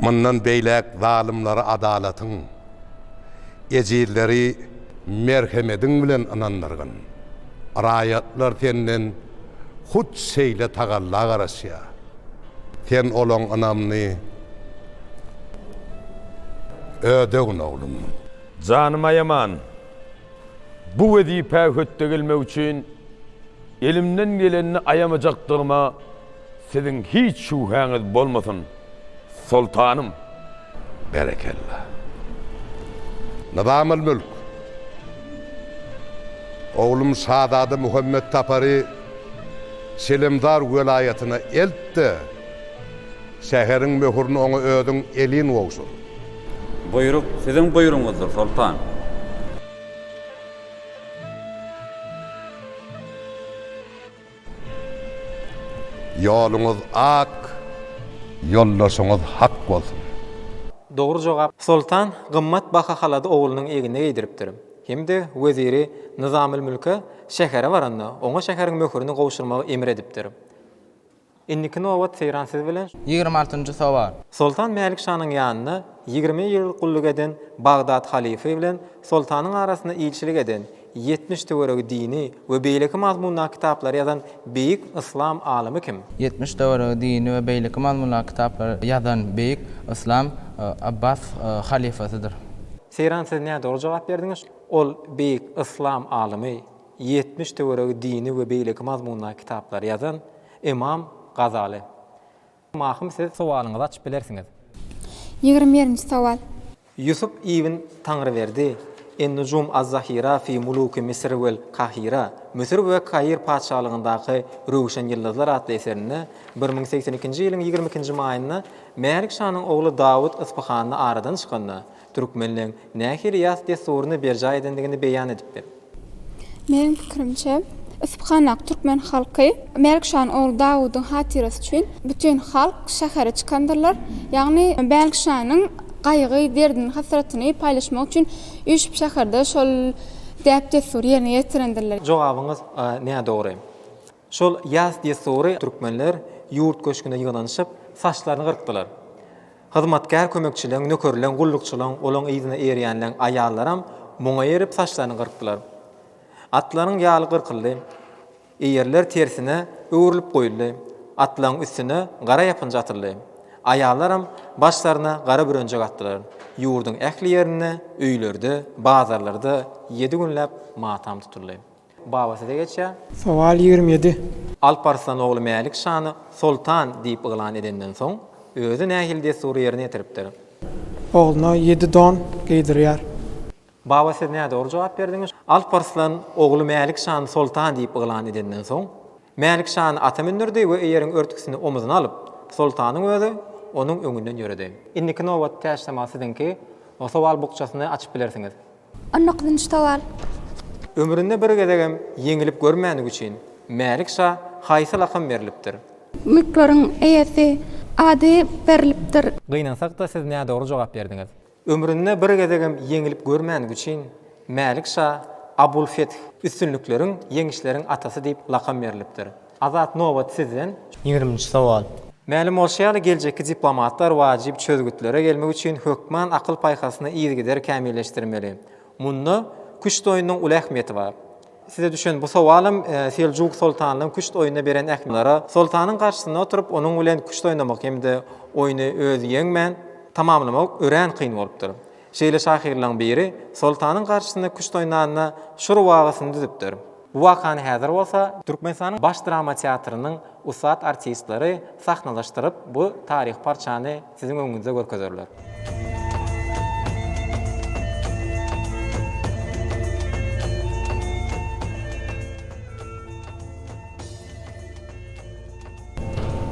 S13: Mundan beýläk zalymlary adalatyň, ejizleri merhemediň bilen ynandyrgyn. Raýatlar Senden hut şeýle tagalla garaşýar. Sen olaň ynamyny ödegin, oglum. Janymy aýaman. Bu wezipä hötde gelmek üçin elimden gelenini aýamajakdygyma Siziň hiç şübhäňiz bolmasyn, soltanym! Berekella! Nyzam al-Mülk! Oglum şazada Muhammet Tapary Selemdar welaýatyna elt-de, şäheriň möhürini oňa özüň elin gowşur. Buýruk
S15: siziň buýrugyňyzdyr, soltan!
S13: Ýoluňyz ak, ýoldaşyňyz hak bolsun! Dogry
S2: jogap. Soltan gymmat baha halaty oglunyň egnine geýdiripdir. Hem-de weziri Nyzamylmülke şähere baranda, oňa şäheriň möhürini gowşurmagy emr edipdir. Indiki nobat Seýran siz bilen. Ýigrimi altynjy sowal.
S7: Soltan Mälik şanyň
S2: ýanynda ýigrimi ýyl gulluk eden Bagdat halyfy bilen soltanyň arasynda ilçilik eden Ýetmiş töweregi dini we beýleki mazmundaky kitaplary ýazan beýik yslam alymy kim? Ýetmiş töweregi dini
S7: we beýleki mazmundaky kitaplary ýazan beýik yslam Abbas halyfasydyr. Seýran siz
S2: nädogry jogap berdiňiz. Ol beýik yslam alymy, ýetmiş töweregi dini we beýleki mazmundaky kitaplary ýazan Ymam Gazaly. Mahym siz sowalyňyzy açyp bilersiňiz. Ýigrimi
S5: birinji sowal. Ýusup
S2: ibn Taňryberdi, En-Nujum az-Zahira fi muluki Misr vel Kahira, Müsür we Kair patyşalygyndaky röwşen ýyldyzlar atly eserinde, bir müň segsen ikinji ýylyň ýigrimi ikinji maýynda Mälik şanyň ogly Dawut Yspyhanda aradan çykanda, Türkmenleň nähili ýas dessuryny berjaý edendigini beýan edipdir. Meniň
S5: pikirimçe, Yspyhanak türkmen halky Mälikşanyň ogly Dawudyň hatyrasy üçin bütin halk şähere çykandyrlar, ýagny Mälikşanyň gaýgy, derdini, hasratyny paýlaşmak üçin üýşüp şäherde şol däp-dessury ýerine ýetirendirler. Jogabyňyz
S2: nädogry. Şol ýas dessury türkmenler ýurt köşgünde ýygnanyşyp, saçlaryny gyrkdylar. Hyzmatkär kömekçileň, nökerleň, gullukçylaň, olaň yzyna eýerýänleň aýallaram muňa erip saçlaryny gyrkdylar. Atlaryň ýaly gyrkyldy. Eýerler tersine öwrülip goýuldy. Atlaryň üstüne gara ýapynja atyldy. Aýallaram başlaryna gara bürenjek atdylar. Ýurduň ähli ýerinde, öýlerde, bazarlarda ýedi günläp matam tutuldy. Baba size geçýär. Sowal ýigrimi ýedi.
S4: Alp Arslan
S2: ogly Mälik şany soltan diýip yglan edenden soň, özi nähili dessury ýerine ýetiripdir? Ogluna
S4: ýedi don geýdirýär. Baba
S2: siz nädogry jogap berdiňiz. Alp Arslan ogly Mälik şany soltan diýip yglan edenden soň, Mälik şany ata mündürdi we eýeriň örtgüsini omuzuna alyp, soltanyň özi onuň öňünden ýöredi. Indiki nobat täşlama siziňki. Sowal bukjasyny açyp bilersiňiz. Onluk dynç
S5: sowal. Ömründe
S2: bir gezegem ýeňilip görmändigi üçin Mälik şa haýsy lakam berlipdir? Mülkleriň
S5: eýesi ady berlipdir. Gynansakda siz
S2: nädogry jogap berdiňiz. Ömründe bir gezegem ýeňilip görmändigi üçin Mälik şa Abul Feth, üstünlikleriň, ýeňişleriň atasy diýip lakam berlipdir. Azat nobat sizden. Ýigriminji sowal.
S6: Mälim bolşy ýaly,
S2: geljekki diplomatlar wajyp çözgütlere gelmek üçin hökman akyl-paýhasyny yzygider kämilleşdirmeli. Munda küşt oýnunyň uly ähmiýeti bar. Size düşen bu sowalym Seljuk soltanynyň küşt oýnuna beren ähmiýetiniň, soltanyň garşysynda oturyp, onuň bilen küşt oýnamak hem-de oýny özi ýeňmän tamamlamak örän kyn bolupdyr. Şeýle şahyrlaryň biri Soltanyň garşysyna küşt oýnanda şu rubagysyny düzüpdir. Bu wakany häzir bolsa Türkmenistanyň Baş drama teatrynyň ussat artistleri sahnalaşdyryp, bu taryhy parçany siziň öňüňizde görkezerler.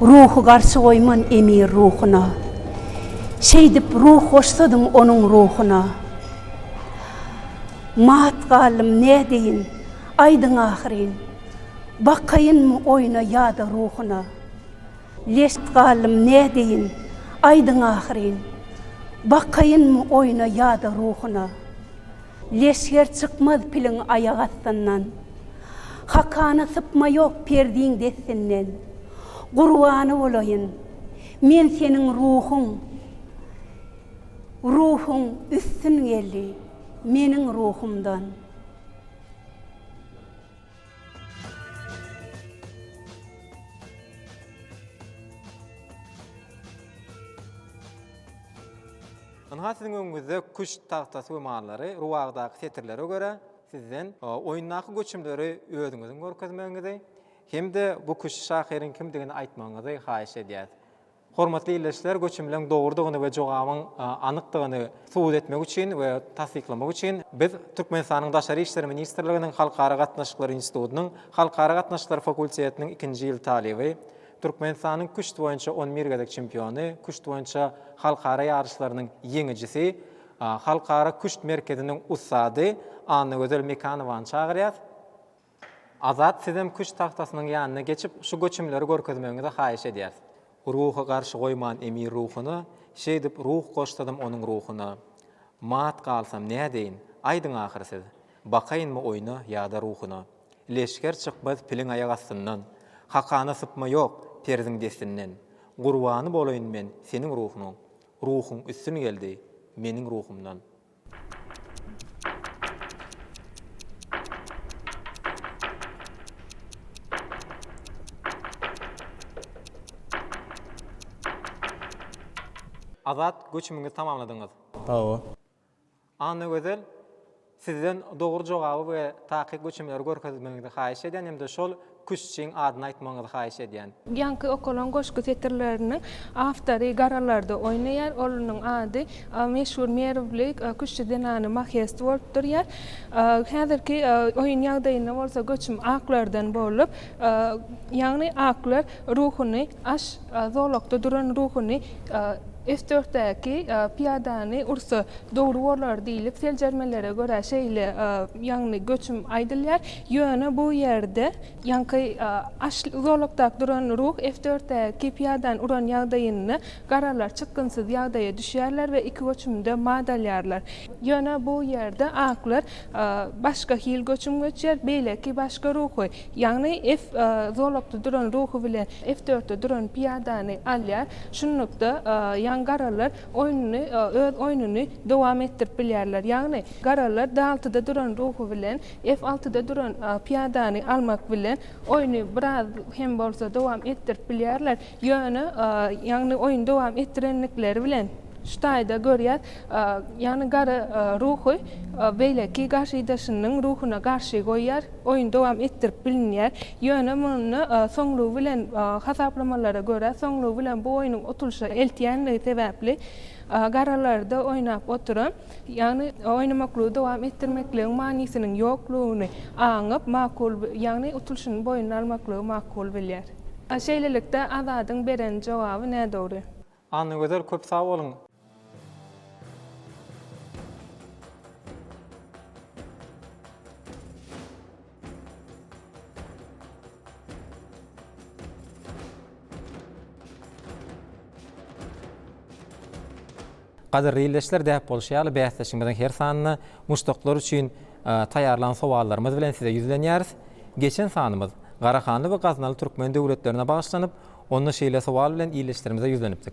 S16: Ruhy garşy goýman emir ruhuna, Şeýdip ruh goşsadyň onuň ruhuna. Mat galdym, nädeýin, aýdyň ahyryn, Bakaýynmy oýna ýa-da ruhuna. Leşt galdym, nädeýin, aýdyň ahyryn, Bakaýynmy oýna ýa-da ruhuna. Leşger çykmaz piliň aýak astyndan. Hakana sypma ýok perdiň destinden. Gurbany bolaýyn, men seniň ruhuň. Ruhuň üstün geldi meniň ruhumdan.
S2: Ynha siziň öňüňizde küşt tagtasy we mallary, rubagydaky setirlere görä, sizden oýundaky göçümleri özüňiziň görkezmegiňizi hem-de bu küşt şahyryň kimdigini aýtmagyňyzy haýyş edýäs. Hormatly ildeşler, göçümleriň dogrudygyny we jogabyň anykdygyny subut etmek üçin we tassyklamak üçin biz Türkmenistanyň Daşary işler ministrliginiň Halkara gatnaşyklary institutynyň Halkara gatnaşyklary fakultetiniň ikinji ýyl talyby, Türkmenistanyň küşt boýunça on bir gezek çempiony, küşt boýunça halkara ýaryşlarynyň ýeňijisi, Halkara küşt merkeziniň ussady Annagözel Mekanowany çagyrýas. Azat sizem küşt tagtasynyň ýanyna geçip şu göçümleri görkezmegiňizi haýyş edýäs. Ruhy garşy goýman emir ruhuna, Şeýdip ruh goşsadym onuň ruhuna. Mat galsam nädeýin, aýdyň ahyry siz, Bakaýynmy oýna ýa-da ruhuna. Leşger çykmaz piliň aýak astyndan, Hakana sypma ýok perziň destinden. Gurbany bolaýyn men seniň ruhuňa, Ruhuň üstün geldi meniň ruhumdan. Azat, göçümiňizi tamamladyňyz. Hawa. Annagözel sizden dogry jogaby we takyk göçümleri görkezmegiňizi haýyş edýän hem-de şol küştçiň adyny aýtmagyňyzy haýyş edýän. Ýaňky okalan
S17: goşgy setirleriniň awtory Garalarda oýnaýar. Onuň ady meşhur merwli küştçi zenany Mahest bolup durýar. Häzirki oýun ýagdaýynda bolsa göçüm aklardan bolup, Ýagny Akgüler ruhuny aş zolakda duran ruhuny F-dörtdäki pyýadany ursa dogry bolar diýlip seljermelere görä şeýle ýagny göçüm aýdylýar. Ýöne bu ýerde ýaňky aş zolakdak duran ruh F-dörtdäki pyýadany uran ýagdaýynda Garalar çykgynsyz ýagdaýa düşýärler we iki göçümde mat alýarlar. Ýöne bu ýerde aklar başga hil göçüm göçýär, beýleki başga ruhy, ýagny F zolakda duran ruhy bilen F dörtde duran pyýadany alýar. Şunlukda, ýagny garalar oýnuny, öz oýnuny dowam etdirip bilýärler. Ýagny garalar D altyda duran ruhy bilen F altyda duran pyýadany almak bilen oýny biraz hem bolsa dowam etdirip bilýärler. Ýöne, ýagny oýny dowam etdirendikleri bilen şu taýda görýäs, ýagny gara ruhy beýleki garşydaşynyň ruhuna garşy goýýar, oýny dowam etdirip bilinýär. Ýöne munda soňlugy bilen hasaplamalara görä, soňlugy bilen bu oýnuň utulyşa eltýändigi sebäpli garalarda oýnap oturan, Ýagny oýnamaklygy dowam etdirmekligiň manysynyň ýoklugyny aňyp, makul, ýagny utulşyny boýnuna almaklygy makul bilýär. Şeýlelikde, Azadyň beren jogaby nädogry. Annagözel köp
S2: sag boluň. Gadyrly ildeşler däp bolşy ýaly bäsleşigimiziň her sanynda muşdaklar üçin taýýarlan sowallarymyz bilen size ýüzlenýäris. Geçen sanymyz Garahanly we Gaznaly türkmen döwletlerine bagyşlanyp, onda şeýle sowal bilen ildeşlerimize ýüzlenipdik.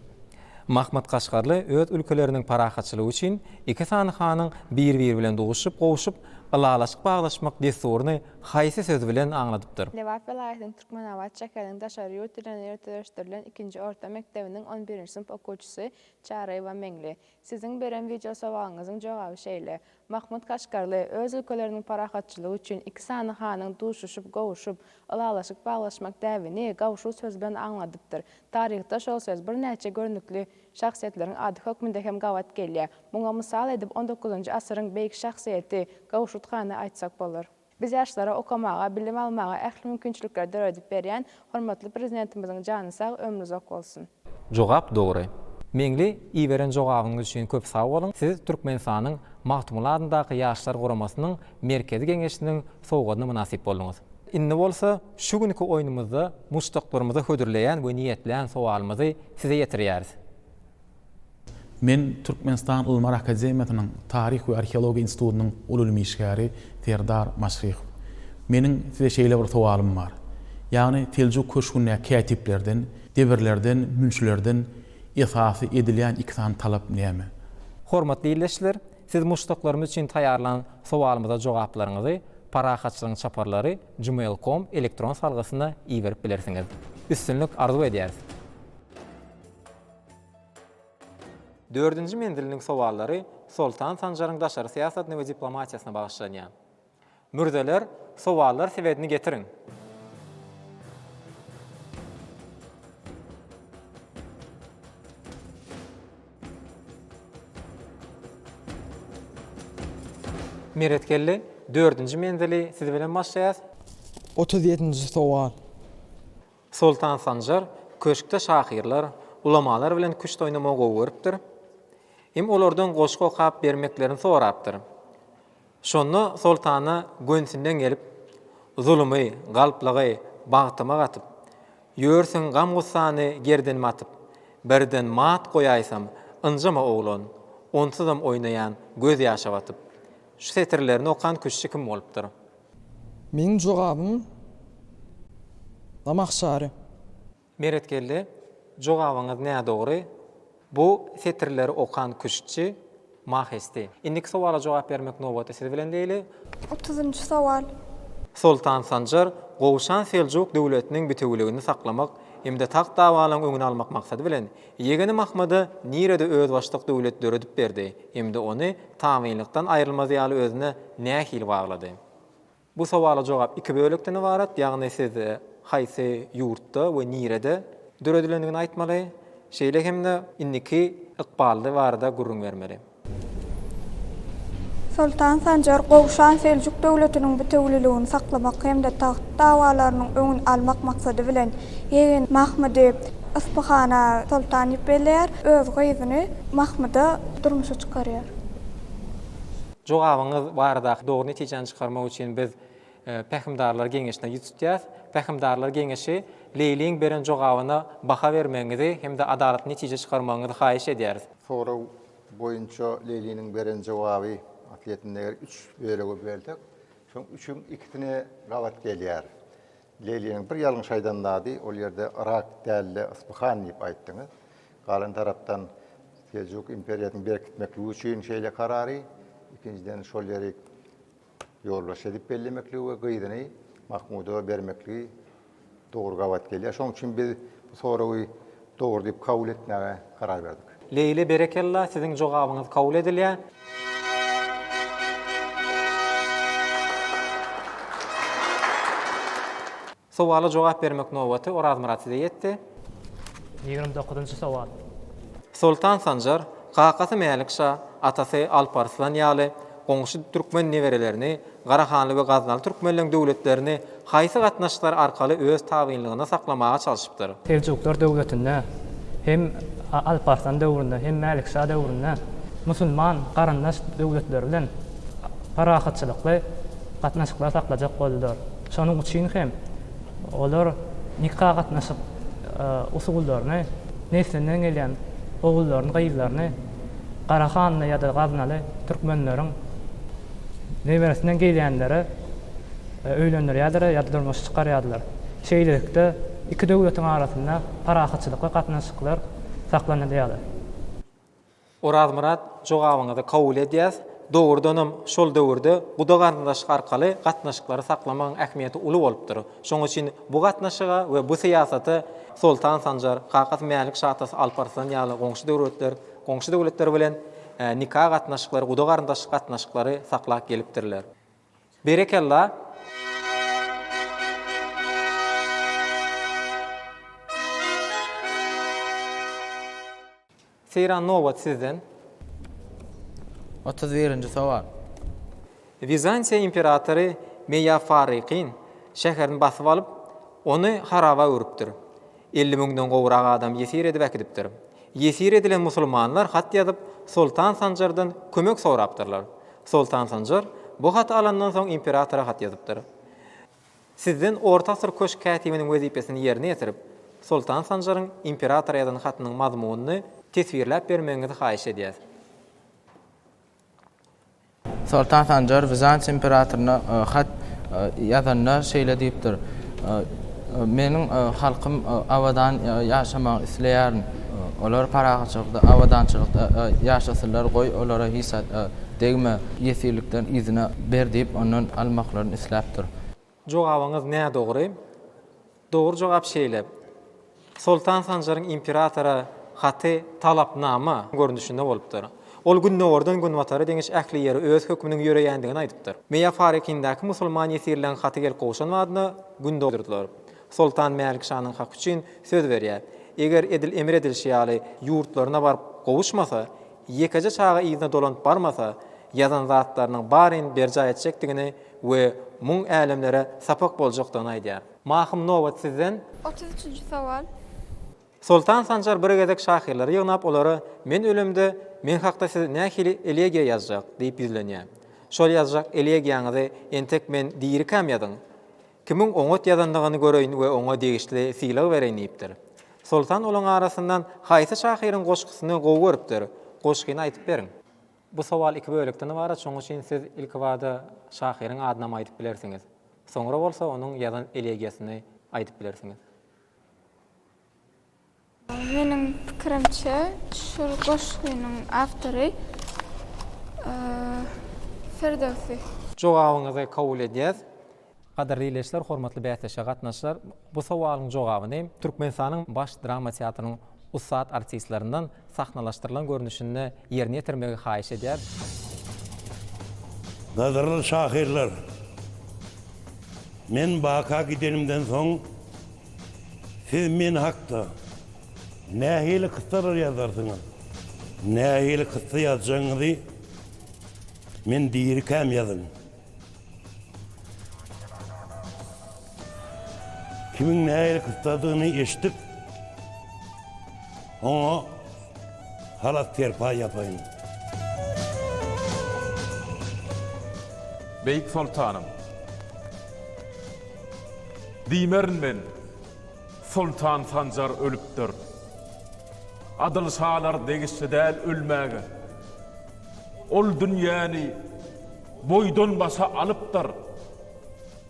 S2: Mahmyt Kaşgarly öz ülkeleriniň parahatçylygy üçin iki sany hanyň bir-biri bilen duşup, gowuşyp, Ylalaşyk baglaşmak dessuryny haýsy söz bilen aňladypdyr? Lebap welaýatynyň
S18: Türkmenabat şäheriniň daşary ýurt dilinde ýöriteleşdirilen ikinji orta mekdebiniň on birinji synp okuwçysy Çaryýewa Meňli. Siziň beren wideosowagyňyzyň jogaby şeýle, Mahmut Kaşgarly öz ülkeleriniň parahatçylygy üçin iki sany hanyň duşuşyp, gowuşyp, ylalaşyk baglaşmak däbini gawşut söz bilen aňladypdyr. Taryhda şol söz birnäçe görnükli şahsyýetleriň ady hökmünde hem gabat gelýär. Muňa mysal edip on dokuzynjy asyryň beýik şahsyýeti Gawşut hany aýtsak bolar. Biz ýaşlara okamaga, bilim almaga ähli mümkinçilikleri döredip berýän hormatly Prezidentimiziň jany sag, ömri uzak bolsun! Jogap dogry.
S2: Meňli iberen jogabyňyz üçin köp sag boluň, siz Türkmenistanyň Magtymguly adyndaky Ýaşlar guramasynyň Merkezi Geňeşiniň sowgadyna mynasyp bolduňyz. Indi bolsa Şu günki oýnumyzda muşdaklarymyza hödürleýän we niýetlän sowalymyzy size ýetirýäris. Men
S19: Türkmenistan Ylymlar akademiýasynyň Taryh we arheologiýa institutynyň uly ylmy işgäri Serdar Maşryhow. Meniň size şeýle bir sowalym bar. Ýagny Seljuk köşgündäki kätiplerden, debirlerden, münçilerden esasy edilýän iki sany talap näme? Hormatly
S2: ildeşler, siz muşdaklarymyz üçin taýýarlan sowalymyza jogaplaryňyzy Parahatçylygyň çaparlary Gmail com elektron salgysyna iberip bilersiňiz. Üstünlik arzuw edýäris! Dördünji menziliniň sowallary Soltan Sanjaryň daşary syýasatyna we diplomatiýasyna bagyşlanýar. Mürzeler, sowallar sebedini getiriň! Meret geldi. Dördünji menzili siz bilen başlaýas. Otuz ýedinji
S4: sowal.
S2: Soltan Sanjar köşkde şahyrlar, ulamalar bilen küşt oýnamagy gowy görüpdir. Hem olardan goşgy okap bermeklerini sorapdyr. Şonda soltana gönsinden gelip, Zulumy, galplygy bagtyma gatyp, Ýörsüň gam-gussany gerdenime atyp, Birden mat goýaýsam, ynjama oglan, Onsuzam oýnaýan göz ýaşa batyp. Şu setirlerini okan küştçi kim bolupdyr? Meniň
S4: jogabym Namahşary. Meretgeldi,
S2: jogabyňyz nädogry, bu setirleri okan küştçi, mahesdi. Indiki sowala jogap bermek nobaty siz bilen diýeli. Otuzynjy
S14: sowal. Soltan
S2: Sanjar Gowşan Seljuk döwletiniň bitewüligini saklamak hem-de tagt dawalaryň öňüni almak maksady bilen, ýegeni Mahmyda nirede özbaşdak döwlet döredip berdi hem-de ony tabynlykdan aýrylmaz ýaly özüne nähili baglady? Bu sowala jogap iki bölekden ybarat, ýagny siz haýsy ýurtda we nirede döredilendigini aýtmaly, şeýle hem-de indiki ykbaly barada gürrüň bermeli.
S14: Soltan Sanjar Gowşan Seljuk döwletiniň bitewüliligini saklamak hem-de tagt dawalarynyň öňüni almak maksady bilen ýegeni Mahmydy Yspyhana soltan diýip belleýär, öz gyzyny Mahmyda durmuşa çykarýar. Jogabyňyz
S2: baradaky dogry netijäni çykarmak üçin biz Pähimdarlar geňeşine ýüz tutýas. Pähimdarlar geňeşi Leýliň beren jogabyna baha bermegiňizi hem-de adalatly netije çykarmagyňyzy haýyş edýäris. Sorag
S11: boýunça Leýliniň beren jogaby atletini eger üç bölege bölsek, şoň üçüň ikisine gabat gelýär. Leýliniň bir ýalňyş aýdan zady, ol ýerde Yrak däl-de, Yspyhan diýip aýtdyňyz. Galan tarapdan Seljuk imperiýasyny berkitmekligi üçin şeýle karary, ikinjiden şol ýeri ýolbaşçy edip bellemekligi we gyzyny Mahmuda bermekligi dogry gabat gelýär. Şonuň üçin biz bu soragy Dogry diýip kabul etmäge karar berdik. Leýli berekella
S2: siziň jogabyňyz kabul edilýä. Sowala jogap bermek nobaty Orazmyrat size ýetdi. Ýigrimi
S6: dokuzynjy sowal. Soltan
S2: Sanjar, kakasy Mälik şa, atasy Alp Arslan ýaly, goňşy türkmen neberelerini Garahanly we Gaznaly türkmenleň döwletlerini haýsy gatnaşyklar arkaly öz tabynlygynda saklamaga çalşypdyr? Seljuklar döwletinde
S6: hem Alparslan döwründe hem Mälikşa döwründe musulman garyndaş döwletler bilen parahatçylykly gatnaşyklar saklajak boldular. Şonuň üçin hem olar nika gatnaşyk usullaryny neslinden gelýän ogullaryny gyzlaryny Garahanly ýa-da Gaznaly türkmenleriň neberesinden gelýänleri öýlendirýärdiler ýa-da durmuşa çykarýardylar. Şeýlelikde, iki döwletiň arasynda parahatçylykly gatnaşyklar
S2: saklanylýardy. Orazmyrat,
S6: jogabyňyzy kabul
S2: edýäs. Dogrudanam, şol döwürde guda-garyndaşlyk arkaly gatnaşyklary saklamagyň ähmiýeti uly bolupdyr. Şonuň üçin bu gatnaşyga we bu syýasata Soltan Sanjar, kakasy Mälik şa atasy Alp Arslan ýaly goňşy döwletler, goňşy döwletler bilen nika gatnaşyklary, guda-garyndaşlyk gatnaşyklary saklap gelipdirler. Berekella! Seýran nobat sizden. Otuz
S7: birinji sowal.
S2: Wizantiýa imperatory Meýafarrykyn şäherini basyp alyp, ony haraba öwrüpdir. Elli müňden gowrak adam ýesir edip äkidipdir. Ýesir edilen musulmanlar hat ýazyp, Soltan Sanjardan kömek sorapdyrlar. Soltan Sanjar bu haty alandan soň imperatora hat ýazypdyr. Sizden orta asyr köşk kätibiniň wezipesini ýerine ýetirip, Soltan Sanjaryň imperatora ýazan hatynyň mazmunyny teswirläp bermegiňizi haýyş edýäs.
S7: Soltan Sanjar Wizantiýa imperatoryna hat ýazanda şeýle diýipdir, Meniň halkym abadan ýaşamagyny isleýärin. Olar parahatçylykda, abadançylykda ýaşasynlar, goý, olara hiç zat degme, ýesirlikden yzyna ber diýip, ondan almaklaryny isläpdir. Jogabyňyz
S2: nädogry. Dogry jogap şeýle, Soltan Sanjaryň imperatora haty talapnama görnüşinde bolupdyr. Ol gündogardan günbatara deňiş ähli ýere öz hökmüniň ýöreýändigini aýdypdyr. Meýa Farikindäki musulman ýesirleň haty gelip gowşan badyna, gün dogdurdylar. Soltan Mälik şanyň haky üçin söz berýär. Eger edil emir edilişi ýaly ýurtlaryna baryp gowuşmasa, ýekeje çaga yzyna dolanyp barmasa, ýazan zatlarynyň baryny berjaý etjekdigini we muň älemlere sapak boljakdygyny aýdýar. Mahym nobat sizden. Otuz üçünji sowal.
S5: Soltan
S2: Sanjar bir gezek şahyrlary ýygnap olara Men ölemde meň hakda siz nähili elegiýa ýazjak? diýip ýüzlenýär. Şol ýazjak elegiýaňyzy entek men dirikäm ýazyň. Kimiň oňat ýazandygyny göreýin we oňa degişli sylag bereýin diýipdir. Soltan olaň arasyndan haýsy şahyryň goşgusyny gowy görüpdir? Goşgyny aýdyp beriň. Bu sowal iki bölekden ybarat, şonuň üçin siz ilkibada şahyryň adynam aýdyp bilersiňiz. Soňra bolsa onuň ýazan elegiýasyny aýdyp bilersiňiz.
S5: Meniň pikirimçe, şul goşgynyň awtory Firdöwsi. Jogabyňyzy
S2: kabul edýäs. Gadyrly ileçiler, hormatly bäsleşige gatnaşyjylar! Bu sowalyň jogabyny Türkmenistanyň Baş drama teatrynyň ussat artistlerinden sahnalaşdyrylan görnüşinde ýerine ýetirmegi haýyş edýäs.
S20: Gadyrly şahyrlar! Men baka gidenimden soň Siz men hakda nähili kyssalar ýazarsyňyz? Nähili kyssa ýazjagyňyzy men dirikäm ýazyň. Kimiň nähili kyssadygyny eşidip, oňa Halas serpaý ýapaýyn.
S21: Beýik soltanym. Diýmerin men, Soltan Sanjar ölüpdir. Adyl şalar degişli däl ölmäge. Ol dünýäni boýdan-başa alypdyr.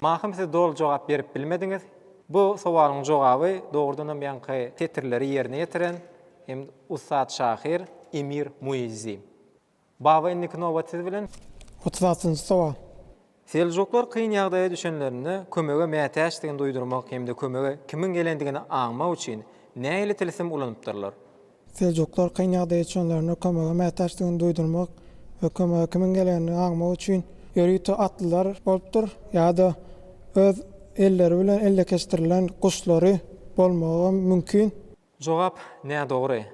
S2: Mahym siz doly jogap berip bilmediňiz. Bu sowalyň jogaby dogrudanam ýaňky setirleri ýerine ýetiren hem ussat şahyr Emir Muizzi. Baba indiki nobat siz bilen. Otuz altynjy
S4: sowal. Seljuklar
S2: kyn ýagdaýa düşenlerinde kömege mätäçdigini duýdurmak hem-de kömege kimiň gelendigini aňmak üçin nähili tilsim ulanypdyrlar? Seljuklar
S4: kyn ýagdaýa düşenlerinde kömege mätäçdigini duýdurmak we kömege kimiň gelenini aňmak üçin ýörite atlylar bolupdyr ýa-da öz elleri bilen ellekeçdirilen guşlary bolmagam mümkin. Jogap,
S2: Nädogry.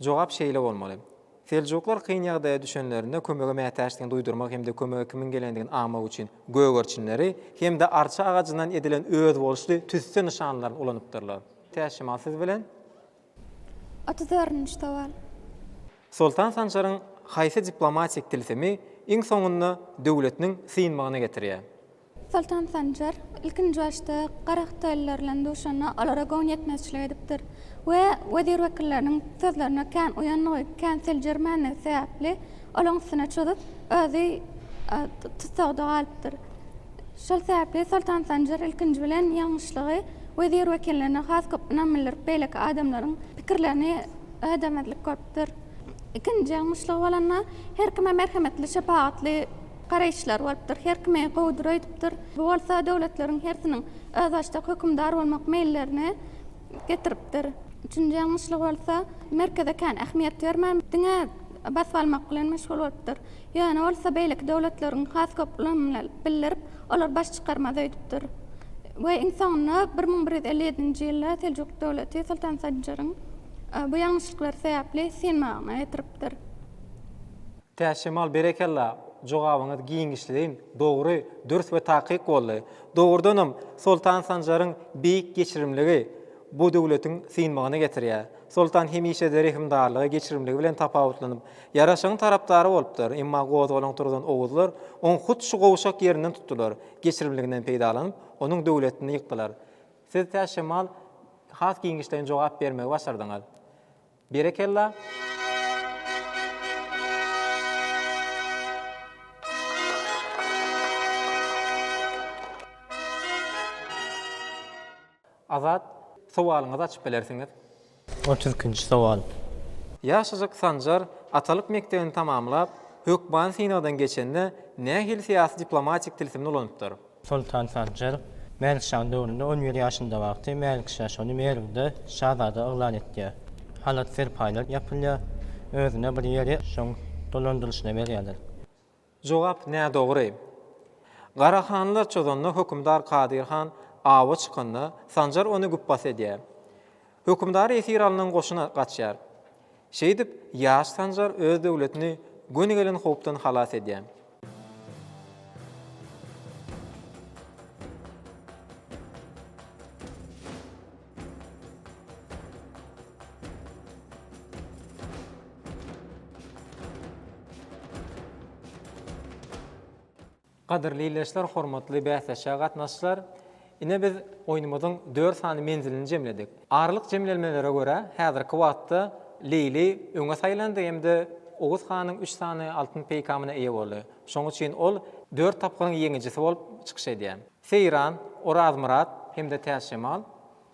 S2: Jogap şeýle bolmaly. Seljuklar kyn ýagdaýa düşenlerinde kömege mätäçdigini duýdurmak hem-de kömege kimiň gelendigini aňmak üçin gögerçinleri hem-de arça agajyndan edilen özboluşly tüsse nyşanlaryny ulanypdyrlar. Täşemal siz bilen Otuz dördünji
S5: sowal.
S2: Soltan Sanjaryň haýsy
S5: diplomatik
S2: tilsimi iň soňunda döwletiniň synmagyna getirýär? Soltan
S5: Sanjar ilkinji başda Garahitalylar bilen duşanda olara göwün ýetmezçilik edipdir we wezir-wekilleriniň sözlerine kän uýandygy, kän seljermändigi sebäpli olaryň üstüne çozup, özi tussagda galypdyr. Şol sebäpli Soltan Sanjar ilkinji bilen ýalňyşlygy wezir-wekillerine has köp ynam bildirip, beýleki adamlaryň pikirlerini ödemezlik görüpdir. Ikinji ýalňyşlygy bolanda, her kime merhemetli, şepagatly garaýyşlary bolupdyr, her kimi gowudyr öýdüpdir. Bu bolsa döwletleriň hersiniň özbaşdak hökümdar bolmak meýillerini getiripdir. Üçünji ýalňyşlygy bolsa, merkeze kän ähmiýet bermän, diňe basyp almak bilen meşgul bolupdyr. Ýöne bolsa beýleki döwletleriň has köp ulanylyny bildirip, olar baş çykarmaz öýdüpdir. We iň soňunda bir müň bir ýüz elli ýedinji ýylda Seljuk döwleti Soltan Sanjaryň bu ýalňyşlyklary sebäpli synmagyna getiripdir.
S2: Täçjemal berekella, jogabyňyz giňişleýin, dogry, dürs we takyk boldy. Dogrudanam, Soltan Sanjaryň beýik geçirimligi bu döwletiň synmagyna getirýär. Soltan hemişe-de rehimdarlygy, geçirimligi bilen tapawutlanyp, ýaraşygyň tarapdary bolupdyr. Emma gozgalaň turzan oguzlar oň hut şu gowşak ýerinden tutdular, geçirimliginden peýdalanyp, onuň döwletini ýykdylar. Siz tä şemal has giňişleýin jogap bermegi başardyňyz. Berekella! Azat, sowalyňyzy açyp bilersiňiz. Otuz ikinji
S6: sowal. Ýaşajyk
S2: Sanjar atalyk mekdebini tamamlap, hökmany synagdan geçende nähili syýasy-diplomatik tilsimini ulanypdyr? Soltan Sanjar
S6: Mälikşaň döwründe on bir ýaşynda wagty Mälikşa şony Merwde şazada yglan etýär. Halat-serpaýlar ýapylýar. Özüne bir ýeri şoň dolandyryşyna berýärler. Jogap
S2: nädogry. Garahanlar çozanda hökümdar Kadyr han awa çykanda, Sanjar ony güpbas edýär. Hökümdary esir alnan goşun gaçýar. Şeýdip, ýaş Sanjar öz döwletini göni gelen howpdan halas edýär. Gadyrly ildeşler, hormatly bäsleşige gatnaşyjylar! Ine biz oýnumyzyň dört sany menzilini jemledik. Aralyk jemlenmelere görä, häzirki wagtda Leýli öňe saýlandy hem-de Oguz hanyň üç sany altyn peýkamyna eýe boldy. Şonuň üçin ol dört tapgyryň ýeňijisi bolup çykyş edýär. Seýran, Orazmyrat hem-de Täçjemal,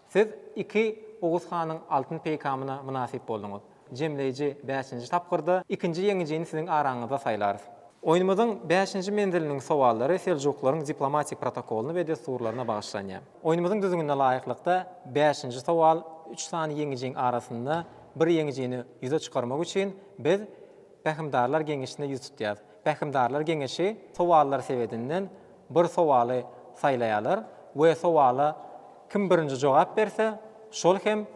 S2: siz iki Oguz hanyň altyn peýkamyna mynasyp bolduňyz. Jemleýji bäşinji tapgyrda ikinji ýeňijini siziň araňyzda saýlarys. Oýnumyzyň bäşinji menziliniň sowallary seljuklaryň diplomatik protokolyna we dessurlaryna bagyşlanýar. Oýnumyzyň düzgünine laýyklykda, bäşinji sowal, üç sany ýeňijiň arasynda bir ýeňijini ýüze çykarmak üçin biz Pähimdarlar geňeşine ýüz tutýarys. Pähimdarlar geňeşi sowallar sebedinden bir sowaly saýlaýarlar we sowala kim birinji jogap berse, şol hem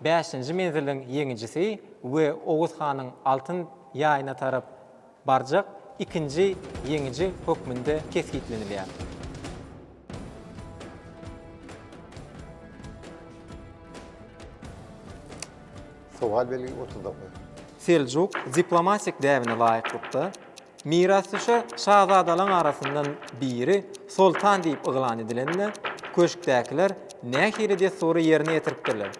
S2: bäşinji menziliň ýeňijisi we Oguz hanyň altyn ýaýyna tarap barjak ikinji ýeňiji hökmünde kesgitlenilýär.
S11: Sowal belgi otuz dokuz. Seljuk
S2: diplomatik däbine laýyklykda, mirasdüşer şazadalaryň arasyndan biri soltan diýip yglan edilende, köşkdäkiler nähili dessury ýerine ýetiripdirler?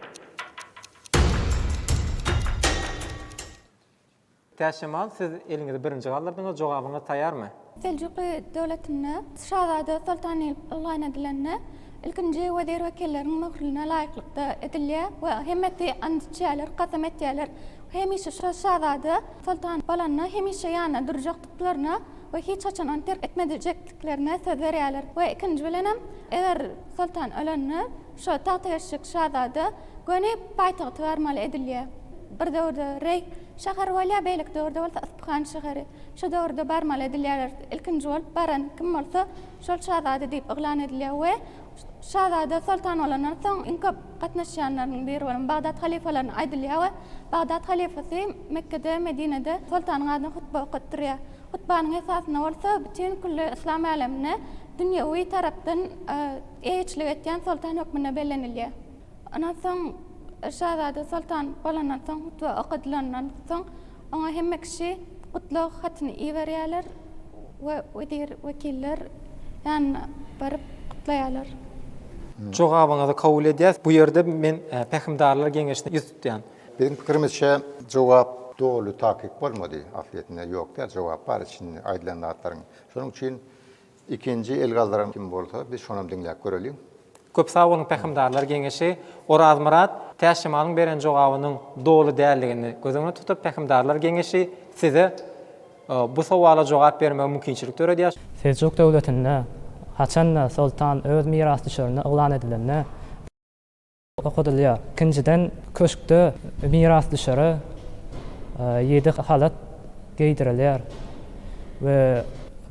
S2: Täşemal siz eliňizi birinji galdyrdyňyz jogabyňyz taýýarmy? Seljuky
S5: döwletinde şazada soltan diýlip yglan edilende ilkinji wezir wekilleriň möhrüne laýyklykda edilýär we hemmesi and içýärler kasam etýärler hemişe şo şazada soltan bolanda hemişe ýanynda durjakdyklaryna we hiç haçan ony terk etmedijekdiklerine söz berýärler we ikinji bilenem eger soltan ölende Şo tagtageçlik şazada göni paýtagty barmaly edilýär. Bir döwürde Reý şäheri bolýar, beýleki döwürde bolsa Yspyhan şäheri. Şo döwürde barmaly edilýärler. Ilkinji bolup baran kim bolsa, şol şazada diýip yglan edilýär we şazada soltan bolandan soň iň köp gatnaşýanlarynyň biri bolan Bagdat halyfalaryna aýdylýar we Bagdat halyfasy Mekgede, Medinede soltanyň adyna hutba okatdyrýar. Hutbanyň esasynda bolsa bütin külli yslam älemine dünýewi tarapdan Eýeçilik etýän soltan hökmünde bellenilýär. Ondan soň şazada soltan bolandan soň, hutbe okadylandan soň, oňa hemme kişi gutlag hatyny iberýärler we wezir-wekiller ýanyna baryp gutlaýarlar.
S2: Jogabyňyzy kabul edýäs. Bu ýerde men Pähimdarlar geňeşine ýüz tutýan. Biziň pikirimizçe
S11: jogap doly takyk bolmady. Aslydne ýok däl jogap bar içinde aýdylan zatlaryň. Şonuň üçin Ikinji el galdyran kim bolsa biz şonam diňläp göreliň. Köp sag boluň
S2: pähimdarlar geňeşi. Orazmyrat Täçjemalyň beren jogabynyň doly däldigini göz öňüne tutup pähimdarlar geňeşi size bu sowala jogap bermegi mümkinçilik döredýär. Seljuk döwletinde
S6: haçanda soltan öz mirasdüşerini yglan edilende, okadylýar. Ikinjiden, köşkde mirasdüşere ýedi halat geýdirilýär we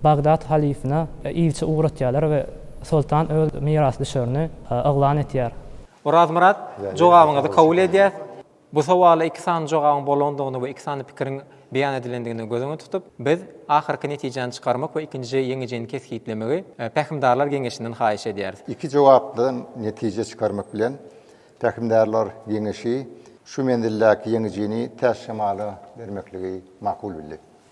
S6: Bagdat halyfyna ilçi ugratýarlar we soltan öz mirasdüşerini yglan etýär. Orazmyrat,
S2: jogabyňyzy kabul edýäs. Bu sowala iki sany jogabyň bolandygyny we iki sany pikiriň beýan edilendigini göz öňünde tutup, biz ahyrky netijäni çykarmak we ikinji ýeňijini kesgitlemegi Pähimdarlar geňeşinden haýyş edýäris. Iki jogapdan
S11: netije çykarmak bilen, Pähimdarlar geňeşi şu menzildäki ýeňijini Täçjemala bermekligi makul bildi.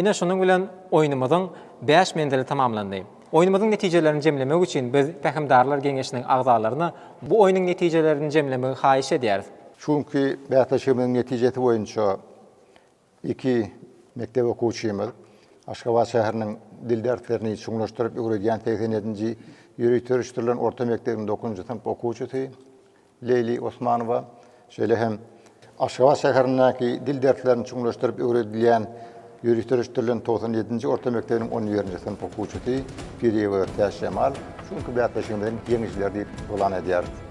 S2: Ine şunuň bilen oýnumyzyň bäş menzili tamamlandy. Oýnumyzyň netijelerini jemlemek üçin biz Pähimdarlar geňeşiniň agzalaryny bu oýnuň netijelerini jemlemegi haýyş edýäris. Şu günki
S11: bäsleşigimiziň netijesi boýunça Iki mekdep okuwçymyz Aşgabat şäheriniň dil derslerini çuňlaşdyryp öwredýän segsen ýedinji ýöriteleşdirilen orta mekdebiň dokuzynjy synp okuwçysy Leýli Osmanowa, şeýle hem Aşgabat şäherindäki dil derslerini çuňlaşdyryp öwredilýän ýöriteleşdirilen togsan ýedinji orta mekdebiniň on birinji synp okuwçysy Piriýewa Täçjemal şu günki bäsleşigimiziň ýeňijileri diýip yglan edýäris.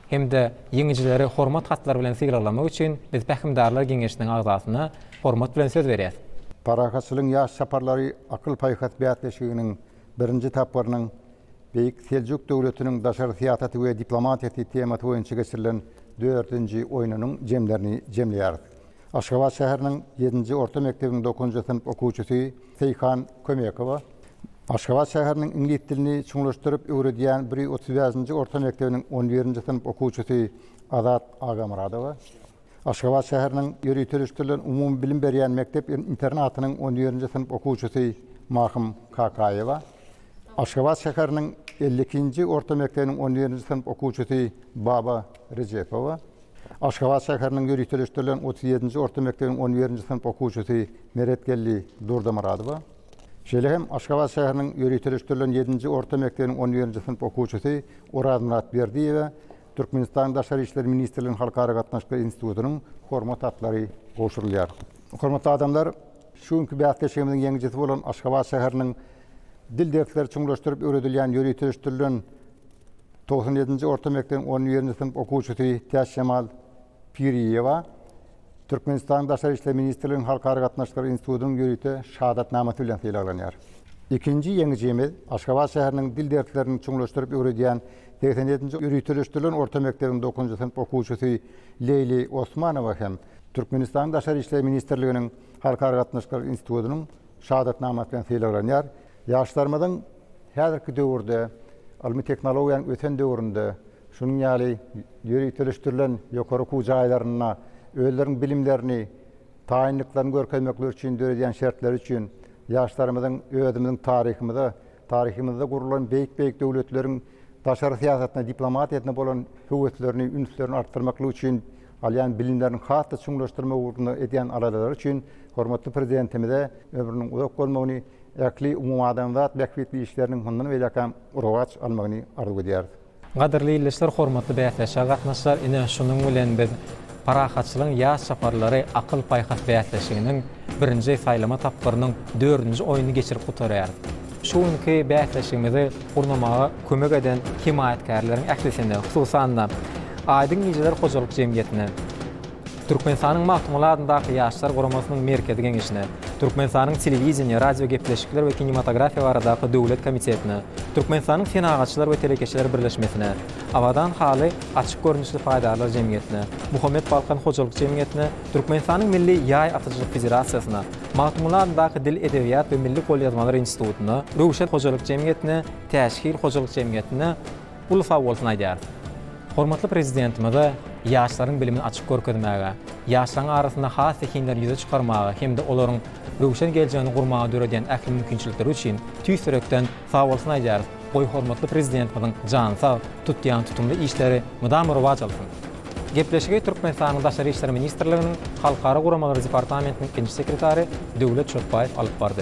S2: hem-de ýeňijileri Hormat hatlary bilen sylaglamak üçin biz Pähimdarlar geňeşiniň agzasyna hormat bilen söz berýäs. Parahatçylygyň ýaş
S11: çaparlary akyl-paýhas bäsleşiginiň birinji tapgyrynyň Beýik Seljuk döwletiniň daşary syýasaty we diplomatiýasy temasy boýunça geçirilen dördünji oýnunyň jemlerini jemleýär. Aşgabat şäheriniň ýedinji orta mekdebiniň dokuzynjy synp okuwçysy Seýhan Kömekowa Aşgabat şäheriniň iňlis dilini çuňlaşdyryp öwredýän bir ýüz otuz bäşinji orta mekdebiniň on birinji synp okuwçysy Azat Agamyradowa, Aşgabat şäheriniň ýöriteleşdirilen umumybilim berýän mekdep-internatynyň on birinji synp okuwçysy Mahym Kakaýewa, Aşgabat şäheriniň elli ikinji orta mekdebiniň on birinji synp okuwçysy Baba Rejepowa, Aşgabat şäheriniň ýöriteleşdirilen otuz ýedinji orta mekdebiň on birinji synp okuwçysy Meretgeldi Durdamyradowa, şeýle hem Aşgabat şäheriniň ýöriteleşdirilen ýedinji orta mekdebiň on birinji synp okuwçysy Orazmyrat Berdiýewä Türkmenistanyň Daşary işler ministrliginiň Halkara gatnaşyklary institutynyň Hormat atlary gowşurylýar. Hormatly adamlar, şu günki bäsleşigimiziň ýeňijisi bolan Aşgabat şäheriniň Dil dersleri çuňlaşdyryp öwredilýän ýöriteleşdirilen Togsan ýedinji orta mekdebiň on birinji synp okuwçysy Täçjemal Piriýewa Türkmenistanyň Daşary işler ministrliginiň Halkara gatnaşyklary institutynyň ýörite şahadatnamasy bilen sylaglanýar. Ikinji ýeňijimiz Aşgabat şäheriniň dil derslerini çuňlaşdyryp öwredýän segsen ýedinji ýöriteleşdirilen orta mekdebiň dokuzynjy synp okuwçysy Leýli Osmanowa hem Türkmenistanyň Daşary işler ministrliginiň Halkara gatnaşyklary institutynyň Şahadatnamasy bilen sylaglanýar. Ýaşlarymyzyň häzirki döwürde, ylmy tehnologiýanyň ösen döwründe, şunuň ýaly ýöriteleşdirilen ýokary okuw jaýlarynda özleriniň bilimlerini, taýynlyklaryny görkezmekleri üçin döredýän şertleri üçin ýaşlarymyzyň özümiziň taryhymyza, taryhymyzda gurlan beýik-beýik döwletleriň daşary syýasatyna, diplomatiýasyna bolan höweslerini, ünslerini artdyrmaklygy üçin alýan bilimlerini has-da çuňlaşdyrmak ugrunda edýän aladalary üçin hormatly Prezidentimize ömrüniň uzak bolmagyny, ähli umumadamzat bähbitli işleriniň mundan beýläkem rowaç almagyny arzuw edýäris. Gadyrly ildeşler,
S2: hormatly bäsleşige gatnaşyjylar, ine, şunuň bilen biz Parahatçylygyň ýaş çaparlary akyl-paýhas bäsleşiginiň birinji saýlama tapgyrynyň dördünji oýnuny geçirip gutarýarys. Şu günki bäsleşigimizi gurnamaga kömek eden hemaýatkärleriň ählisine, hususan-da, Aýdyň gijeler hojalyk jemgyýetine, Türkmenistanyň Magtymguly adyndaky Ýaşlar guramasynyň Merkezi geňeşine, Türkmenistanyň Telewideniýe, radiogepleşikler we kinematografiýa baradaky döwlet komitetine, Türkmenistanyň Senagatçylar we telekeçiler birleşmesine, Abadan haly açyk görnüşli paýdarlar jemgyýetine, Muhammet Balkan hojalyk jemgyýetine, Türkmenistanyň Milli ýaý atyjylyk federasiýasyna, Magtymguly adyndaky Dil, edebiýat we milli golýazmalar institutyna, Röwşen hojalyk jemgyýetine, Täçhil hojalyk jemgyýetine uly sagbolsun aýdýarys. Hormatly Prezidentimize ýaşlaryň bilimini açyp görkezmäge, ýaşlaryň arasynda has zehinleri ýüze çykarmaga hem-de olaryň röwşen geljegini gurmaga döredýän ähli mümkinçilikleri üçin tüýs ýürekden Sag bolsun aýdýarys. Goý hormatly Prezidentimiziň jany sag, tutýan tutumly işleri mydama rowaç alsyn. Gepleşigi Türkmenistanyň Daşary işler ministrliginiň Halkara guramalary departamentiniň ikinji sekretary Döwlet Çöpbaýew alyp bardy.